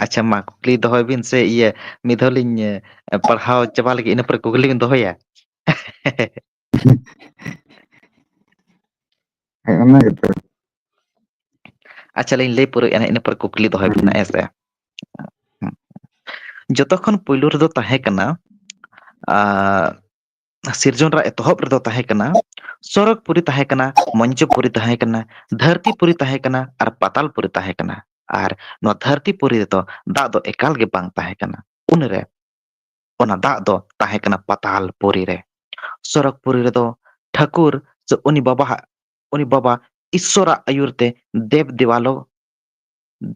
ᱟᱪᱪᱷᱟ ᱢᱟ ᱠᱩᱠᱞᱤ ᱫᱚᱦᱚᱭ ᱵᱤᱱ ᱥᱮ ᱤᱭᱟᱹ ᱢᱤᱫ ᱫᱷᱟᱣ ᱞᱤᱧ ᱯᱟᱲᱦᱟᱣ ᱪᱟᱵᱟ ᱞᱟᱹᱜᱤᱫ ᱤᱱᱟᱹ ᱯᱚᱨᱮ ᱠᱩᱠᱞᱤ ᱵᱤᱱ ᱫᱚᱦᱚᱭᱟ ᱦᱮᱸ ᱚᱱᱟ ᱜᱮᱛᱚ ᱟᱪᱪᱷᱟ ᱞᱤᱧ ᱞᱟᱹᱭ ᱯᱩᱨᱟᱹᱭᱮᱫᱼᱟ ᱱᱟᱜ ᱤᱱᱟᱹ ᱯᱚᱨᱮ ᱠᱩᱠᱞᱤ ᱫᱚᱦᱚᱭ ᱵᱮᱱ ᱦᱮᱸ ᱥᱮ ᱡᱚᱛᱚ ᱠᱷᱚᱱ ᱯᱩᱭᱞᱩ ᱨᱮᱫᱚ ᱛᱟᱦᱮᱸ ᱠᱟᱱᱟ ᱥᱤᱨᱡᱚᱱ ᱨᱮᱭᱟᱜ ᱮᱛᱚᱦᱚᱵ ᱨᱮᱫᱚ ᱛᱟᱦᱮᱸ ᱠᱟᱱᱟ ᱥᱚᱨᱚᱜᱽ ᱯᱩᱨᱤ ᱛᱟᱦᱮᱸ ᱠᱟᱱᱟ ᱢᱚᱧᱡᱚ ᱯᱩᱨᱤ ᱛᱟᱦᱮᱸ ᱠᱟᱱᱟ ᱫᱷᱟᱹᱨᱛᱤ ᱯᱩᱨᱤ ᱛᱟᱦᱮᱸ ᱠᱟᱱᱟ ᱟᱨ ᱯᱟᱛᱟᱞ ᱯᱩᱨᱤ ᱛᱟᱦᱮᱸ ᱠᱟᱱᱟ ᱟᱨ ᱱᱚᱣᱟ ᱫᱷᱟᱹᱨᱛᱤ ᱯᱩᱨᱤ ᱨᱮᱫᱚ ᱫᱟᱜ ᱫᱚ ᱮᱠᱟᱞ ᱜᱮ ᱵᱟᱝ ᱛᱟᱦᱮᱸ ᱠᱟᱱᱟ ᱩᱱᱨᱮ ᱚᱱᱟ ᱫᱟᱜ ᱫᱚ ᱛᱟᱦᱮᱸ ᱠᱟᱱᱟ ᱯᱟᱛᱟᱞ ᱯᱩᱨᱤ ᱨᱮ ᱥᱚᱨᱚᱜᱽ ᱯᱩᱨᱤ ᱨᱮᱫᱚ ᱴᱷᱟᱹᱠᱩᱨ ᱥᱮ ᱩᱱᱤ ᱵᱟᱵᱟᱦᱟᱜ ᱩᱱᱤ ᱵᱟᱵᱟ ᱤᱥᱥᱚᱨᱟᱜ ᱟᱹᱭᱩᱨ ᱛᱮ ᱫᱮᱵᱽ ᱫᱮᱣᱟᱞᱚ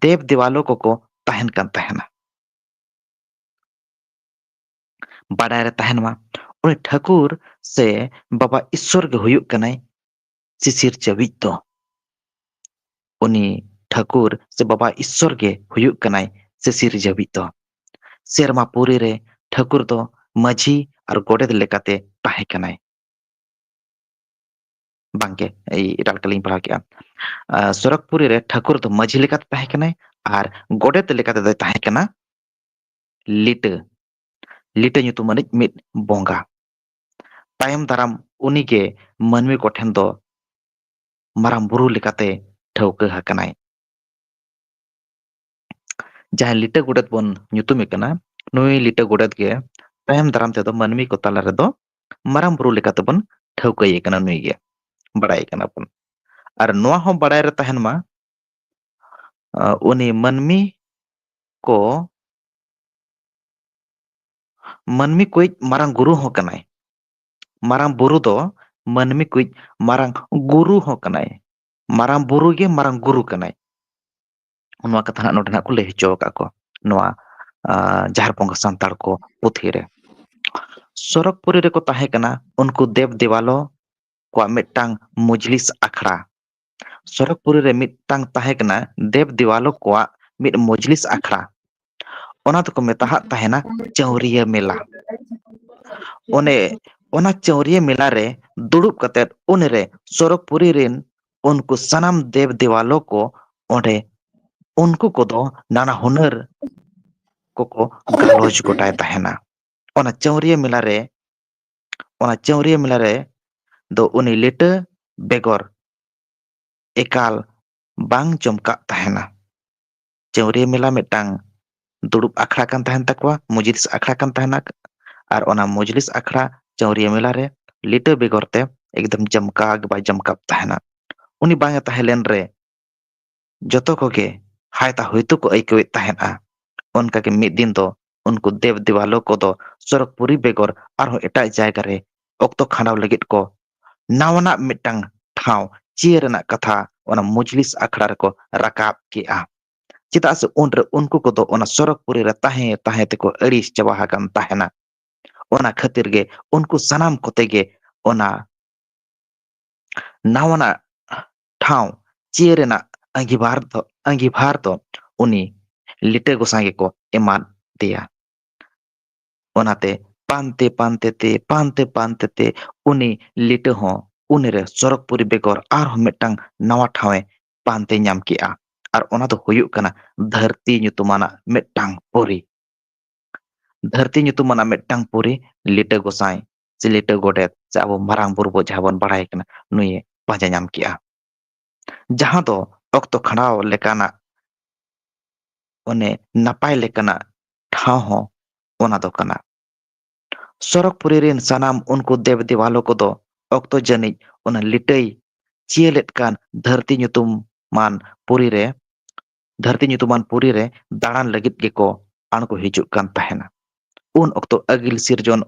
ᱫᱮᱵᱽ ᱫᱮᱣᱟᱞᱚ ᱠᱚᱠᱚ ᱛᱟᱦᱮᱱ ᱠᱟᱱ ᱛᱟᱦᱮᱱᱟ ᱵᱟᱰᱟᱭ ᱨᱮ ᱛᱟᱦᱮᱱ ᱢᱟ ᱩᱱᱤ ᱴᱷᱟᱹᱠᱩᱨ ᱥᱮ ᱵᱟᱵᱟ ᱤᱥᱥᱚᱨ ᱜᱮ ᱦᱩᱭᱩᱜ ᱠᱟᱱᱟᱭ ᱥᱤᱥᱤᱨ ᱪᱟᱹᱵᱤᱡ ᱫᱚ ᱩᱱᱤ ᱴᱷᱟᱹᱠᱩᱨ ᱥᱮ ᱵᱟᱵᱟ ᱤᱥᱥᱚᱨ ᱜᱮ ᱦᱩᱭᱩᱜ ᱠᱟᱱᱟᱭ ᱥᱤᱥᱤᱨ ᱡᱟᱹᱵᱤᱡ ᱫᱚ ᱥᱮᱨᱢᱟ ᱯᱩᱨᱤ ᱨᱮ ᱴᱷᱟᱹᱠᱩᱨ ᱫᱚ ᱢᱟᱹᱡᱷᱤ ᱟᱨ ᱜᱚᱰᱮᱛ ᱞᱮᱠᱟᱛᱮ ᱛᱟᱦᱮᱸ ᱠᱟᱱᱟᱭ ᱵᱟᱝᱜᱮ ᱮᱴᱟᱜ ᱞᱮᱠᱟ ᱞᱤᱧ ᱯᱟᱲᱦᱟᱣ ᱠᱮᱫᱼᱟ ᱥᱚᱨᱚᱜᱽᱯᱩᱨᱤ ᱨᱮ ᱴᱷᱟᱹᱠᱩᱨ ᱫᱚ ᱢᱟᱹᱡᱷᱤ ᱞᱮᱠᱟᱛᱮ ᱛᱟᱦᱮᱸ ᱠᱟᱱᱟᱭ ᱟᱨ ᱜᱚᱰᱮᱛ ᱞᱮᱠᱟᱛᱮ ᱫᱚᱭ ᱛᱟᱦᱮᱸ ᱠᱟᱱᱟ ᱞᱤᱴᱟᱹ ᱞᱤᱴᱟᱹ ᱧᱩᱛᱩᱢ ᱟᱹᱱᱤᱡ ᱢᱤᱫ ᱵᱚᱸᱜᱟ ᱛᱟᱭᱚᱢ ᱫᱟᱨᱟᱢ ᱩᱱᱤ ᱜᱮ ᱢᱟᱹᱱᱢᱤ ᱠᱚ ᱴᱷᱮᱱ ᱫᱚ ᱢᱟᱨᱟᱝ ᱵᱩᱨᱩ ᱞᱮᱠᱟᱛᱮ ᱴᱷᱟᱹᱣᱠᱟᱹ ᱟᱠᱟᱱᱟᱭ᱾ ᱡᱟᱦᱟᱸᱭ ᱞᱤᱴᱟᱹ ᱜᱚᱰᱮᱛ ᱵᱚᱱ ᱧᱩᱛᱩᱢᱮ ᱠᱟᱱᱟ ᱱᱩᱭ ᱞᱤᱴᱟᱹ ᱜᱚᱰᱮᱛ ᱜᱮ ᱛᱟᱭᱚᱢ ᱫᱟᱨᱟᱢ ᱛᱮᱫᱚ ᱢᱟᱹᱱᱢᱤ ᱠᱚ ᱛᱟᱞᱟ ᱨᱮᱫᱚ ᱢᱟᱨᱟᱝ ᱵᱩᱨᱩ ᱞᱮᱠᱟᱛᱮ ᱵᱚᱱ ᱴᱷᱟᱹᱣᱠᱟᱹᱭᱮ ᱠᱟᱱᱟ ᱱᱩᱭ ᱜᱮ ᱵᱟᱲᱟᱭᱮ ᱠᱟᱱᱟ ᱵᱚᱱ ᱟᱨ ᱱᱚᱣᱟ ᱦᱚᱸ ᱵᱟᱲᱟᱭ ᱨᱮ ᱛᱟᱦᱮᱱ ᱢᱟ ᱩᱱᱤ ᱢᱟᱹᱱᱢᱤ ᱠᱚ ᱢᱟᱹᱱᱢᱤ ᱠᱚᱭᱤᱡ ᱢᱟᱨᱟᱝ ᱜᱩᱨᱩ ᱦᱚᱸ ᱠᱟᱱᱟᱭ᱾ ᱢᱟᱨᱟᱝ ᱵᱩᱨᱩ ᱫᱚ ᱢᱟᱹᱱᱢᱤ ᱠᱚᱭᱤᱡ ᱢᱟᱨᱟᱝ ᱜᱩᱨᱩ ᱦᱚᱸ ᱠᱟᱱᱟᱭ᱾ ᱢᱟᱨᱟᱝ ᱵᱩᱨᱩ ᱜᱮ ᱢᱟᱨᱟᱝ ᱜᱩᱨᱩ ᱠᱟᱱᱟᱭ᱾ ᱱᱚᱣᱟ ᱠᱟᱛᱷᱟ ᱦᱟᱸᱜ ᱱᱚᱰᱮ ᱱᱟᱜ ᱠᱚ ᱞᱟᱹᱭ ᱦᱚᱪᱚ ᱟᱠᱟᱫ ᱠᱚ ᱱᱚᱣᱟ ᱡᱟᱦᱮᱨ ᱵᱚᱸᱜᱟ ᱥᱟᱱᱛᱟᱲ ᱠᱚ ᱯᱩᱛᱷᱤ ᱨᱮ᱾ ᱥᱚᱨᱚᱜᱽ ᱯᱩᱨᱤ ᱨᱮᱠᱚ ᱛᱟᱦᱮᱸ ᱠᱟᱱᱟ ᱩᱱᱠᱩ ᱫᱮᱵᱽ ᱫᱮᱵᱟᱞᱚ ᱠᱚᱣᱟᱜ ᱢᱤᱫᱴᱟᱝ ᱢᱚᱡᱽᱞᱤᱥ ᱟᱠᱷᱲᱟ ᱥᱚᱨᱚᱜᱽ ᱯᱩᱨᱤ ᱨᱮ ᱢᱤᱫᱴᱟᱝ ᱛᱟᱦᱮᱸ ᱠᱟᱱᱟ ᱫᱮᱵ ᱫᱮᱣᱟᱞᱳ ᱠᱚᱣᱟᱜ ᱢᱤᱫ ᱢᱚᱡᱽᱞᱤᱥ ᱟᱠᱷᱲᱟ ᱚᱱᱟ ᱫᱚᱠᱚ ᱢᱮᱛᱟᱜ ᱛᱟᱦᱮᱱᱟ ᱪᱟᱹᱣᱨᱤᱭᱟᱹ ᱢᱮᱞᱟ ᱚᱱᱮ ᱚᱱᱟ ᱪᱟᱹᱣᱨᱤᱭᱟᱹ ᱢᱮᱞᱟ ᱨᱮ ᱫᱩᱲᱩᱵ ᱠᱟᱛᱮᱫ ᱩᱱᱨᱮ ᱥᱚᱨᱚᱜᱽ ᱯᱩᱨᱤ ᱨᱮᱱ ᱩᱱᱠᱩ ᱥᱟᱱᱟᱢ ᱫᱮᱵ ᱫᱮᱣᱟᱞᱳ ᱠᱚ ᱚᱸᱰᱮ ᱩᱱᱠᱩ ᱠᱚᱫᱚ ᱱᱟᱱᱟ ᱦᱩᱱᱟᱹᱨ ᱠᱚᱠᱚ ᱜᱟᱞᱚᱪ ᱜᱚᱴᱟᱭ ᱛᱟᱦᱮᱱᱟ ᱚᱱᱟ ᱪᱟᱹᱣᱨᱤᱭᱟᱹ ᱢᱮᱞᱟ ᱨᱮ ᱚᱱᱟ ᱪᱟᱹᱣᱨᱤᱭᱟᱹ ᱢᱮᱞᱟ ᱨᱮ ᱫᱚ ᱩᱱᱤ ᱞᱤᱴᱟᱹ ᱵᱮᱜᱚᱨ ᱮᱠᱟᱞ ᱵᱟᱝ ᱪᱚᱢᱠᱟᱜ ᱛᱟᱦᱮᱱᱟ ᱪᱟᱹᱣᱨᱤᱭᱟᱹ ᱢᱮᱞᱟ ᱢᱤᱫᱴᱟᱝ ᱫᱩᱲᱩᱵ ᱟᱠᱷᱲᱟ ᱠᱟᱱ ᱛᱟᱦᱮᱱ ᱛᱟᱠᱚᱣᱟ ᱢᱩᱡᱽᱞᱤᱥ ᱟᱠᱷᱲᱟ ᱠᱟᱱ ᱛᱟᱦᱮᱱᱟ ᱟᱨ ᱚᱱᱟ ᱢᱚᱡᱽᱞᱤᱥ ᱟᱠᱷᱲᱟ ᱪᱟᱹᱣᱨᱤᱭᱟᱹ ᱢᱮᱞᱟ ᱨᱮ ᱞᱤᱴᱟᱹ ᱵᱮᱜᱚᱨ ᱛᱮ ᱮᱠᱫᱚᱢ ᱡᱚᱢᱠᱟᱣ ᱜᱮ ᱵᱟᱭ ᱡᱚᱢᱠᱟᱜ ᱛᱟᱦᱮᱱᱟ ᱩᱱᱤ ᱵᱟᱝ ᱮ ᱛᱟᱦᱮᱸ ᱞᱮᱱ ᱨᱮ ᱡᱚᱛᱚ ᱠᱚᱜᱮ ᱦᱟᱭᱛᱟ ᱦᱚᱭᱛᱳ ᱠᱚ ᱟᱹᱭᱠᱟᱹᱣᱮᱫ ᱛᱟᱦᱮᱸᱫᱼᱟ ᱚᱱᱠᱟᱜᱮ ᱢᱤᱫ ᱫᱤᱱ ᱫᱚ ᱩᱱᱠᱩ ᱫᱮᱵ ᱫᱮᱵᱟᱞᱳ ᱠᱚᱫᱚ ᱥᱚᱨᱚᱜᱽ ᱯᱩᱨᱤ ᱵᱮᱜᱚᱨ ᱟᱨᱦᱚᱸ ᱮᱴᱟᱜ ᱡᱟᱭᱜᱟ ᱨᱮ ᱚᱠᱛᱚ ᱠᱷᱟᱸᱰᱟᱣ ᱞᱟᱹᱜᱤᱫ ᱠᱚ ᱱᱟᱣᱟᱱᱟᱜ ᱢᱤᱫᱴᱟᱝ ᱴᱷᱟᱶ ᱪᱤᱭᱟᱹ ᱨᱮᱱᱟᱜ ᱠᱟᱛᱷᱟ ᱚᱱᱟ ᱢᱩᱡᱽᱞᱤᱥ ᱟᱠᱷᱲᱟ ᱨᱮᱠᱚ ᱨᱟᱠᱟᱵ ᱠᱮᱜᱼᱟ ᱪᱮᱫᱟᱜ ᱥᱮ ᱩᱱᱨᱮ ᱩᱱᱠᱩ ᱠᱚᱫᱚ ᱚᱱᱟ ᱥᱚᱨᱚᱜᱽ ᱯᱩᱨᱤ ᱨᱮ ᱛᱟᱦᱮᱸ ᱛᱟᱦᱮᱸ ᱛᱮᱠᱚ ᱟᱹᱲᱤᱥ ᱪᱟᱵᱟ ᱟᱠᱟᱱ ᱛᱟᱦᱮᱱᱟ ᱚᱱᱟ ᱠᱷᱟᱹᱛᱤᱨ ᱜᱮ ᱩᱱᱠᱩ ᱥᱟᱱᱟᱢ ᱠᱚᱛᱮ ᱜᱮ ᱚᱱᱟ ᱱᱟᱣᱟᱱᱟᱜ ᱴᱷᱟᱶ ᱪᱤᱭᱟᱹ ᱨᱮᱱᱟᱜ ᱟᱺᱜᱤᱵᱷᱟᱨ ᱫᱚ ᱟᱺᱜᱤᱵᱷᱟᱨ ᱫᱚ ᱩᱱᱤ ᱞᱤᱴᱟᱹ ᱜᱚᱸᱥᱟᱭ ᱜᱮᱠᱚ ᱮᱢᱟᱫ ᱫᱮᱭᱟ᱾ ᱚᱱᱟᱛᱮ ᱯᱟᱱᱛᱮ ᱯᱟᱱᱛᱮ ᱛᱮ ᱯᱟᱱᱛᱮ ᱯᱟᱱᱛᱮ ᱛᱮ ᱩᱱᱤ ᱞᱤᱴᱟᱹ ᱦᱚᱸ ᱩᱱᱤᱨᱮ ᱥᱚᱨᱚᱜᱽᱯᱩᱨᱤ ᱵᱮᱜᱚᱨ ᱟᱨᱦᱚᱸ ᱢᱤᱫᱴᱟᱝ ᱱᱟᱶᱟ ᱴᱷᱟᱶ ᱮ ᱯᱟᱱᱛᱮ ᱧᱟᱢ ᱠᱮᱫᱼᱟ ᱟᱨ ᱚᱱᱟ ᱫᱚ ᱦᱩᱭᱩᱜ ᱠᱟᱱᱟ ᱫᱷᱟᱹᱨᱛᱤ ᱧᱩᱛᱩᱢᱟᱱᱟᱜ ᱢᱤᱫᱴᱟᱝ ᱯᱩᱨᱤ᱾ ᱫᱷᱟᱹᱨᱛᱤ ᱧᱩᱛᱩᱢᱟᱱᱟᱜ ᱢᱤᱫᱴᱟᱝ ᱯᱩᱨᱤ ᱞᱤᱴᱟᱹ ᱜᱚᱸᱥᱟᱭ ᱥᱮ ᱞᱤᱴᱟᱹ ᱜᱚᱰᱮᱛ ᱥᱮ ᱟᱵᱚ ᱢᱟᱨᱟᱝ ᱵᱩᱨᱩ ᱵᱚ ᱡᱟᱦᱟᱸ ᱵᱚᱱ ᱵᱟᱲᱟᱭ ᱠᱟᱱᱟ ᱱᱩᱭᱮ ᱯᱟᱸᱡᱟ ᱧᱟᱢ ᱠᱮᱜᱼᱟ᱾ ᱡᱟᱦᱟᱸ ᱫᱚ ᱚᱠᱛᱚ ᱠᱷᱟᱸᱰᱟᱣ ᱞᱮᱠᱟᱱᱟᱜ ᱚᱱᱮ ᱱᱟᱯᱟᱭ ᱞᱮᱠᱟᱱᱟᱜ ᱴᱷᱟᱶ ᱦᱚᱸ ᱚᱱᱟ ᱫᱚ ᱠᱟᱱᱟ᱾ ᱥᱚᱨᱚᱜᱽᱯᱩᱨᱤ ᱨᱤᱱ ᱥᱟᱱᱟᱢ ᱩᱱᱠᱩ ᱫᱮᱵᱽ ᱫᱮᱣᱟᱞᱚ ᱠᱚᱫᱚ ᱚᱠᱛᱚ ᱡᱟᱹᱱᱤᱡ ᱚᱱᱟ ᱞᱤᱴᱟᱹᱭ ᱪᱤᱭᱟᱹ ᱞᱮᱫ ᱠᱟᱱ ᱫᱷᱟᱹᱨᱛᱤ ᱧᱩᱛᱩᱢᱟᱱ ᱯᱩᱨᱤ ᱨᱮ ᱫᱷᱟᱹᱨᱛᱤ ᱧᱩᱛᱩᱢᱟᱱ ᱯᱩᱨᱤ ᱨᱮ ᱫᱟᱬᱟᱱ ᱞᱟᱹᱜᱤᱫ ᱜᱮᱠᱚ ᱟᱬᱜᱚ ᱦᱤᱡᱩᱜ ᱠᱟᱱ ᱛᱟᱦᱮᱱᱟ᱾ ᱩᱱ ᱚᱠᱛᱚ ᱟᱹᱜᱤᱞ ᱥᱤᱨᱡᱚᱱ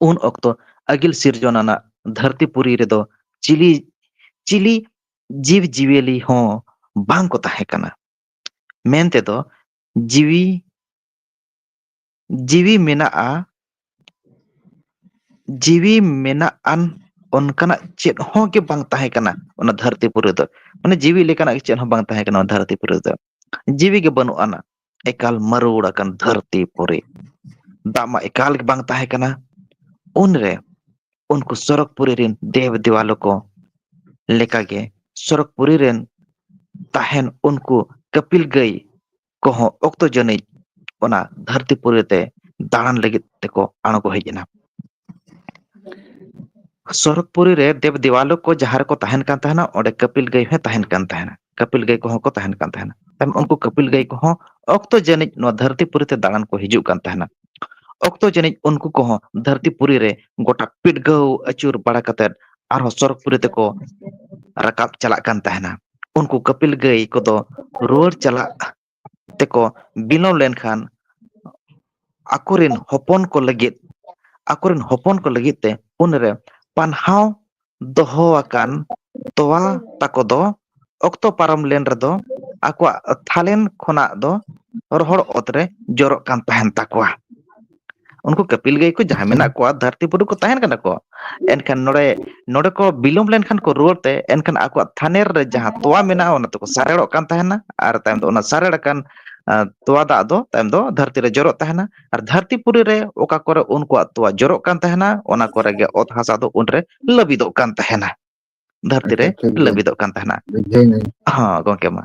ᱩᱱ ᱚᱠᱛᱚ ᱟᱹᱜᱤᱞ ᱥᱤᱨᱡᱚᱱ ᱟᱱᱟᱜ ᱫᱷᱟᱹᱨᱛᱤ ᱯᱩᱨᱤ ᱨᱮᱫᱚ ᱪᱤᱞᱤ ᱪᱤᱞᱤ ᱡᱤᱵᱽ ᱡᱤᱭᱟᱹᱞᱤ ᱦᱚᱸ ᱵᱟᱝ ᱠᱚ ᱛᱟᱦᱮᱸ ᱠᱟᱱᱟ᱾ ᱢᱮᱱ ᱛᱮᱫᱚ ᱡᱤᱣᱤ ᱡᱤᱣᱤ ᱢᱮᱱᱟᱜᱼᱟ ᱡᱤᱣᱤ ᱢᱮᱱᱟᱜ ᱟᱱ ᱚᱱᱠᱟᱱᱟᱜ ᱪᱮᱫ ᱦᱚᱸ ᱜᱮ ᱵᱟᱝ ᱛᱟᱦᱮᱸ ᱠᱟᱱᱟ ᱚᱱᱟ ᱫᱷᱟᱹᱨᱛᱤ ᱯᱩᱨᱤ ᱫᱚ ᱢᱟᱱᱮ ᱡᱤᱣᱤ ᱞᱮᱠᱟᱱᱟᱜ ᱜᱮ ᱪᱮᱫ ᱦᱚᱸ ᱵᱟᱝ ᱛᱟᱦᱮᱸ ᱠᱟᱱᱟ ᱚᱱᱟ ᱫᱷᱟᱹᱨᱛᱤ ᱯᱩᱨᱤ ᱨᱮᱫᱚ ᱡᱤᱣᱤ ᱜᱮ ᱵᱟᱹᱱᱩᱜ ᱟᱱᱟ ᱮᱠᱟᱞ ᱢᱟᱹᱨᱩᱣᱲ ᱟᱠᱟᱱ ᱫᱷᱟᱹᱨᱛᱤ ᱯᱩᱨᱤ ᱫᱟᱜ ᱢᱟ ᱮᱠᱟᱞ ᱜᱮ ᱵᱟᱝ ᱛᱟᱦᱮᱸ ᱠᱟᱱᱟ ᱩᱱᱨᱮ ᱩᱱᱠᱩ ᱥᱚᱨᱚᱜᱽ ᱯᱩᱨᱤ ᱨᱤᱱ ᱫᱮᱵ ᱫᱮᱣᱟᱞᱳ ᱠᱚ ᱞᱮᱠᱟᱜᱮ ᱥᱚᱨᱚᱜᱽ ᱯᱩᱨᱤ ᱨᱮᱱ ᱛᱟᱦᱮᱱ ᱩᱱᱠᱩ ᱠᱟᱹᱯᱤᱞ ᱜᱟᱹᱭ ᱠᱚᱦᱚᱸ ᱚᱠᱛᱚ ᱡᱟᱹᱱᱤᱡ ᱚᱱᱟ ᱫᱷᱟᱹᱨᱛᱤ ᱯᱩᱨᱤ ᱛᱮ ᱫᱟᱬᱟᱱ ᱞᱟᱹᱜᱤᱫ ᱛᱮᱠᱚ ᱟᱬᱜᱚ ᱦᱮᱡ ᱮᱱᱟ ᱥᱚᱨᱚᱜᱽ ᱯᱩᱨᱤ ᱨᱮ ᱫᱮᱵ ᱫᱮᱣᱟᱞᱳ ᱠᱚ ᱡᱟᱦᱟᱸ ᱨᱮᱠᱚ ᱛᱟᱦᱮᱱ ᱠᱟᱱ ᱛᱟᱦᱮᱱᱟ ᱚᱸᱰᱮ ᱠᱟᱹᱯᱤᱞ ᱜᱟᱹᱭ ᱦᱚᱸᱭ ᱛᱟᱦᱮᱱ ᱠᱟᱱ ᱛᱟᱦᱮᱱᱟ ᱠᱟᱹᱯᱤᱞ ᱜᱟᱹᱭ ᱠᱚᱦᱚᱸ ᱠᱚ ᱛᱟᱦᱮᱱ ᱠᱟᱱ ᱛᱟᱦᱮᱱᱟ ᱩᱱᱠᱩ ᱠᱟᱹᱯᱤᱞ ᱜᱟᱹᱭ ᱠᱚᱦᱚᱸ ᱚᱠᱛᱚ ᱡᱟᱹᱱᱤᱡ ᱱᱚᱣᱟ ᱫᱷᱟᱹᱨᱛᱤ ᱯᱩᱨᱤ ᱛᱮ ᱫᱟᱬᱟᱱ ᱠᱚ ᱦᱤᱡᱩᱜ ᱠᱟᱱ ᱛᱟᱦᱮᱱᱟ ᱚᱠᱛᱚ ᱡᱟᱹᱱᱤᱡ ᱩᱱᱠᱩ ᱠᱚᱦᱚᱸ ᱫᱷᱟᱹᱨᱛᱤ ᱯᱩᱨᱤ ᱨᱮ ᱜᱚᱴᱟ ᱯᱤᱰᱜᱟᱹᱣ ᱟᱹᱪᱩᱨ ᱵᱟᱲᱟ ᱠᱟᱛᱮᱫ ᱟᱨᱦᱚᱸ ᱥᱚᱨᱚᱜᱽ ᱯᱩᱨᱤ ᱛᱮᱠᱚ ᱨᱟᱠᱟᱵ ᱪᱟᱞᱟᱜ ᱠᱟᱱ ᱛᱟᱦᱮᱱᱟ ᱩᱱᱠᱩ ᱠᱟᱹᱯᱤᱞ ᱜᱟᱹᱭ ᱠᱚᱫᱚ ᱨᱩᱣᱟᱹᱲ ᱪᱟᱞᱟᱜ ᱛᱮᱠᱚ ᱵᱤᱞᱚᱢ ᱞᱮᱱᱠᱷᱟᱱ ᱟᱠᱚᱨᱮᱱ ᱦᱚᱯᱚᱱ ᱠᱚ ᱞᱟᱹᱜᱤᱫ ᱟᱠᱚᱨᱮᱱ ᱦᱚᱯᱚᱱ ᱠᱚ ᱞᱟᱹᱜᱤᱫ ᱛᱮ ᱩᱱᱨᱮ ᱯᱟᱱᱦᱟᱣ ᱫᱚᱦᱚ ᱟᱠᱟᱱ ᱛᱚᱣᱟ ᱛᱟᱠᱚ ᱫᱚ ᱚᱠᱛᱚ ᱯᱟᱨᱚᱢ ᱞᱮᱱ ᱨᱮᱫᱚ ᱟᱠᱚᱣᱟᱜ ᱛᱷᱟᱞᱮᱱ ᱠᱷᱚᱱᱟᱜ ᱫᱚ ᱨᱚᱦᱚᱲ ᱚᱛᱨᱮ ᱡᱚᱨᱚᱜ ᱠᱟᱱ ᱛᱟᱦᱮᱱ ᱛᱟᱠᱚᱣᱟ ᱩᱱᱠᱩ ᱠᱟᱹᱯᱤᱞ ᱜᱟᱹᱭ ᱠᱚ ᱡᱟᱦᱟᱸᱭ ᱢᱮᱱᱟᱜ ᱠᱚᱣᱟ ᱫᱷᱟᱹᱨᱛᱤ ᱯᱩᱨᱤ ᱠᱚ ᱛᱟᱦᱮᱱ ᱠᱟᱱᱟ ᱠᱚ ᱮᱱᱠᱷᱟᱱ ᱱᱚᱰᱮ ᱱᱚᱰᱮ ᱠᱚ ᱵᱤᱞᱚᱢ ᱞᱮᱱᱠᱷᱟᱱ ᱠᱚ ᱨᱩᱣᱟᱹᱲ ᱛᱮ ᱮᱱᱠᱷᱟᱱ ᱟᱠᱚᱣᱟᱜ ᱛᱷᱟᱱᱮᱨ ᱨᱮ ᱡᱟᱦᱟᱸ ᱛᱳᱣᱟ ᱢᱮᱱᱟᱜᱼᱟ ᱚᱱᱟ ᱫᱚᱠᱚ ᱥᱟᱨᱮᱲᱚᱜ ᱠᱟᱱ ᱛᱟᱦᱮᱱᱟ ᱟᱨ ᱛᱟᱭᱚᱢ ᱫᱚ ᱚᱱᱟ ᱥᱟᱨᱮᱲ ᱟᱠᱟᱱ ᱛᱚᱣᱟ ᱫᱟᱜ ᱫᱚ ᱛᱟᱭᱚᱢ ᱫᱚ ᱫᱷᱟᱹᱨᱛᱤ ᱨᱮ ᱡᱚᱨᱚᱜ ᱛᱟᱦᱮᱱᱟ ᱟᱨ ᱫᱷᱟᱹᱨᱛᱤ ᱯᱩᱨᱤ ᱨᱮ ᱚᱠᱟ ᱠᱚᱨᱮ ᱩᱱᱠᱩᱣᱟᱜ ᱛᱚᱣᱟ ᱡᱚᱨᱚᱜ ᱠᱟᱱ ᱛᱟᱦᱮᱱᱟ ᱚᱱᱟ ᱠᱚᱨᱮ ᱜᱮ ᱚᱛ ᱦᱟᱥᱟ ᱫᱚ ᱩᱱᱨᱮ ᱞᱟᱹᱵᱤᱫᱚᱜ ᱠᱟᱱ ᱛᱟᱦᱮᱱᱟ ᱫᱷᱟᱹᱨᱛᱤ ᱨᱮ ᱟᱪᱪᱷᱟ ᱴᱷᱤᱠ ᱜᱮᱭᱟ ᱞᱟᱹᱵᱤᱫᱚᱜ ᱠᱟᱱ ᱛᱟᱦᱮᱱᱟ ᱵᱩᱡᱷᱟᱹᱣ ᱦᱚᱸ ᱜᱚᱝᱠᱮ ᱢᱟ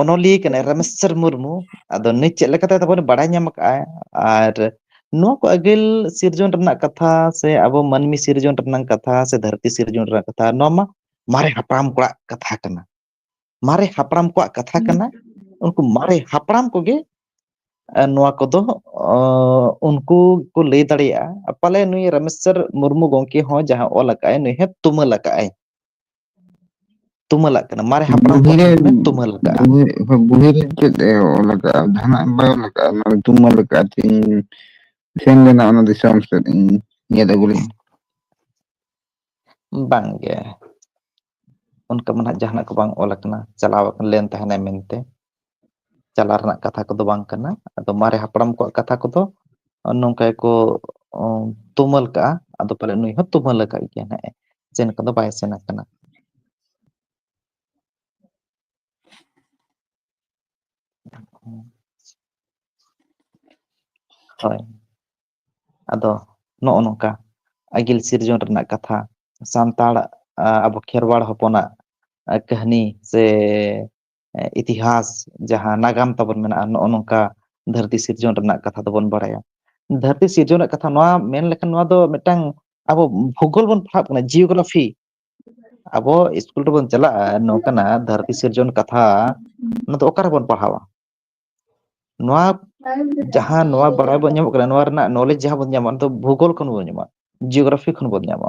ᱚᱱᱚᱞᱤᱭᱟᱹ ᱠᱟᱱᱟᱭ ᱨᱟᱢᱮᱥᱪᱚᱨ ᱢᱩᱨᱢᱩ ᱟᱫᱚ ᱱᱤᱛ ᱪᱮᱫ ᱞᱮᱠᱟᱛᱮ ᱛᱟᱵᱚᱱ ᱵᱟᱲᱟᱭ ᱧᱟᱢ ᱠᱟᱜᱼᱟᱭ ᱟᱨ ᱱᱚᱣᱟ ᱠᱚ ᱟᱹᱜᱤᱞ ᱥᱤᱨᱡᱚᱱ ᱨᱮᱱᱟᱜ ᱠᱟᱛᱷᱟ ᱥᱮ ᱟᱵᱚ ᱢᱟᱹᱱᱢᱤ ᱥᱤᱨᱡᱚᱱ ᱨᱮᱱᱟᱜ ᱠᱟᱛᱷᱟ ᱥᱮ ᱫᱷᱟᱹᱨ ᱛᱤ ᱥᱤᱨᱡᱚᱱ ᱨᱮᱱᱟᱜ ᱠᱟᱛᱷᱟ ᱱᱚᱣᱟ ᱢᱟ ᱢᱟᱨᱮ ᱦᱟᱯᱲᱟᱢ ᱠᱚᱣᱟᱜ ᱠᱟᱛᱷᱟ ᱠᱟᱱᱟ ᱢᱟᱨᱮ ᱦᱟᱯᱲᱟᱢ ᱠᱚᱣᱟᱜ ᱠᱟᱛᱷᱟ ᱠᱟᱱᱟ ᱩᱱᱠᱩ ᱢᱟᱨᱮ ᱦᱟᱯᱲᱟᱢ ᱠᱚᱜᱮ ᱱᱚᱣᱟ ᱠᱚᱫᱚ ᱩᱱᱠᱩ ᱠᱚ ᱞᱟᱹᱭ ᱫᱟᱲᱮᱭᱟᱜᱼᱟ ᱯᱟᱞᱮ ᱱᱩᱭ ᱨᱟᱢᱮᱥᱪᱚᱨ ᱢᱩᱨᱢᱩ ᱜᱚᱝᱠᱮ ᱦᱚᱸ ᱡᱟᱦᱟᱸ ᱚᱞ ᱟᱠᱟᱫ ᱟᱭ ᱱᱩᱭ ᱦᱚᱸ ᱛᱩᱢᱟᱹᱞ ᱟᱠᱟᱫ ᱟᱭ ᱛᱩᱢᱟᱹᱞᱟᱜ ᱠᱟᱱᱟ ᱢᱟᱨᱮ ᱦᱟᱯᱲᱟᱢ ᱵᱩᱲᱦᱤ ᱠᱚᱣᱟᱜ ᱨᱮ ᱧᱩᱛᱩᱢᱮ ᱛᱩᱢᱟᱹᱞ ᱟᱠᱟᱜᱼᱟ ᱾ ᱵᱩᱲᱦᱤ ᱨᱮ ᱪᱮᱫ ᱮ ᱚᱞ ᱟᱠᱟᱜᱼᱟ ᱡᱟᱦᱟᱱᱟᱜ ᱵᱟᱭ ᱚᱞ ᱟᱠᱟᱜᱼᱟ ᱚᱱᱟ ᱨᱮ ᱛᱩᱢᱟᱹᱞ ᱟᱠᱟᱜᱼᱟ ᱪᱮᱫ ᱤᱧ ᱥᱮᱱ ᱞᱮᱱᱟ ᱚᱱᱟ ᱫᱤᱥᱚᱢ ᱥᱮᱫ ᱤᱧ ᱧᱮᱞ ᱟᱹᱜᱩ ᱞᱤᱧ ᱾ ᱵᱟᱝ ᱜᱮ ᱾ ᱚᱱᱠᱟ ᱢᱟ ᱱᱟᱦᱟᱜ ᱡᱟᱦᱟᱱᱟᱜ ᱠᱚ ᱵᱟᱝ ᱚᱞ ᱟᱠᱟᱱᱟ ᱪᱟᱞᱟᱣ ᱟᱠᱟᱱ ᱞᱮᱱ ᱛᱟᱦᱮᱱᱟᱭ ᱢᱮᱱᱛᱮ ᱾ ᱪᱟᱞᱟᱜ ᱨᱮᱱᱟᱜ ᱠᱟᱛᱷᱟ ᱠᱚᱫᱚ ᱵᱟᱝ ᱠᱟᱱᱟ ᱟᱫᱚ ᱢᱟᱨᱮ ᱦᱟᱯᱲᱟᱢ ᱠᱚᱣᱟᱜ ᱠᱟᱛᱷᱟ ᱠᱚᱫᱚ ᱱᱚᱝᱠᱟ ᱜᱮᱠᱚ ᱛᱩᱢᱟᱹᱞ ᱠᱟᱜᱼᱟ ᱟᱫᱚ ᱯᱟᱞᱮ ᱱᱩᱭ ᱦᱚᱸ ᱛᱩᱢᱟᱹᱞ ᱟᱠᱟᱫ ᱜᱮᱭᱟ ᱦᱟᱸᱜ ᱮ ᱥᱮᱱ ᱠᱚᱫᱚ ᱵᱟᱭ ᱥᱮᱱ ᱟᱠᱟᱱᱟ ᱦᱳᱭ ᱟᱫᱚ ᱱᱚᱜᱼᱚ ᱱᱚᱝᱠᱟ ᱟᱹᱜᱤᱞ ᱥᱤᱨᱡᱚᱱ ᱨᱮᱱᱟᱜ ᱠᱟᱛᱷᱟ ᱥᱟᱱᱛᱟᱲ ᱟᱵᱚ ᱠᱷᱮᱨᱣᱟᱲ ᱦᱚᱯᱚᱱᱟᱜ ᱠᱟᱹᱦᱱᱤ ᱥᱮ ᱤᱛᱤᱦᱟᱥ ᱡᱟᱦᱟᱸ ᱱᱟᱜᱟᱢ ᱛᱟᱵᱚᱱ ᱢᱮᱱᱟᱜᱼᱟ ᱱᱚᱜᱼᱚ ᱱᱚᱝᱠᱟ ᱫᱷᱟᱹᱨᱛᱤ ᱥᱤᱨᱡᱚᱱ ᱨᱮᱱᱟᱜ ᱠᱟᱛᱷᱟ ᱫᱚᱵᱚᱱ ᱵᱟᱲᱟᱭᱟ ᱫᱷᱟᱹᱨᱛᱤ ᱥᱤᱨᱡᱚᱱ ᱨᱮᱱᱟᱜ ᱠᱟᱛᱷᱟ ᱱᱚᱣᱟ ᱢᱮᱱ ᱞᱮᱠᱷᱟᱱ ᱱᱚᱣᱟ ᱫᱚ ᱢᱤᱫᱴᱟᱝ ᱟᱵᱚ ᱵᱷᱩᱜᱳᱞ ᱵᱚᱱ ᱯᱟᱲᱦᱟᱜ ᱠᱟᱱᱟ ᱡᱤᱭᱳᱜᱨᱟᱯᱷᱤ ᱟᱵᱚ ᱤᱥᱠᱩᱞ ᱨᱮᱵᱚᱱ ᱪᱟᱞᱟᱜᱼᱟ ᱱᱚᱝᱠᱟᱱᱟᱜ ᱫᱷᱟᱹᱨᱛᱤ ᱥᱤᱨᱡᱚᱱ ᱠᱟᱛᱷᱟ ᱚᱱᱟ ᱫᱚ ᱚᱠᱟ ᱨᱮᱵᱚᱱ ᱯᱟᱲᱦᱟᱣᱟ ᱱᱚᱣᱟ ᱡᱟᱦᱟᱸ ᱱᱚᱣᱟ ᱵᱟᱲᱟᱭ ᱵᱚᱱ ᱧᱟᱢᱚᱜ ᱠᱟᱱᱟ ᱱᱚᱣᱟ ᱨᱮᱱᱟᱜ ᱱᱚᱞᱮᱡᱽ ᱡᱟᱦᱟᱸ ᱵᱚᱱ ᱧᱟᱢᱟ ᱚᱱᱟ ᱫᱚ ᱵᱷᱩᱜᱳᱞ ᱠᱷᱚᱱ ᱵᱚᱱ ᱧᱟᱢᱟ ᱡᱤᱭᱳᱜᱨᱟᱯᱷᱤ ᱠᱷᱚᱱ ᱵᱚᱱ ᱧᱟᱢᱟ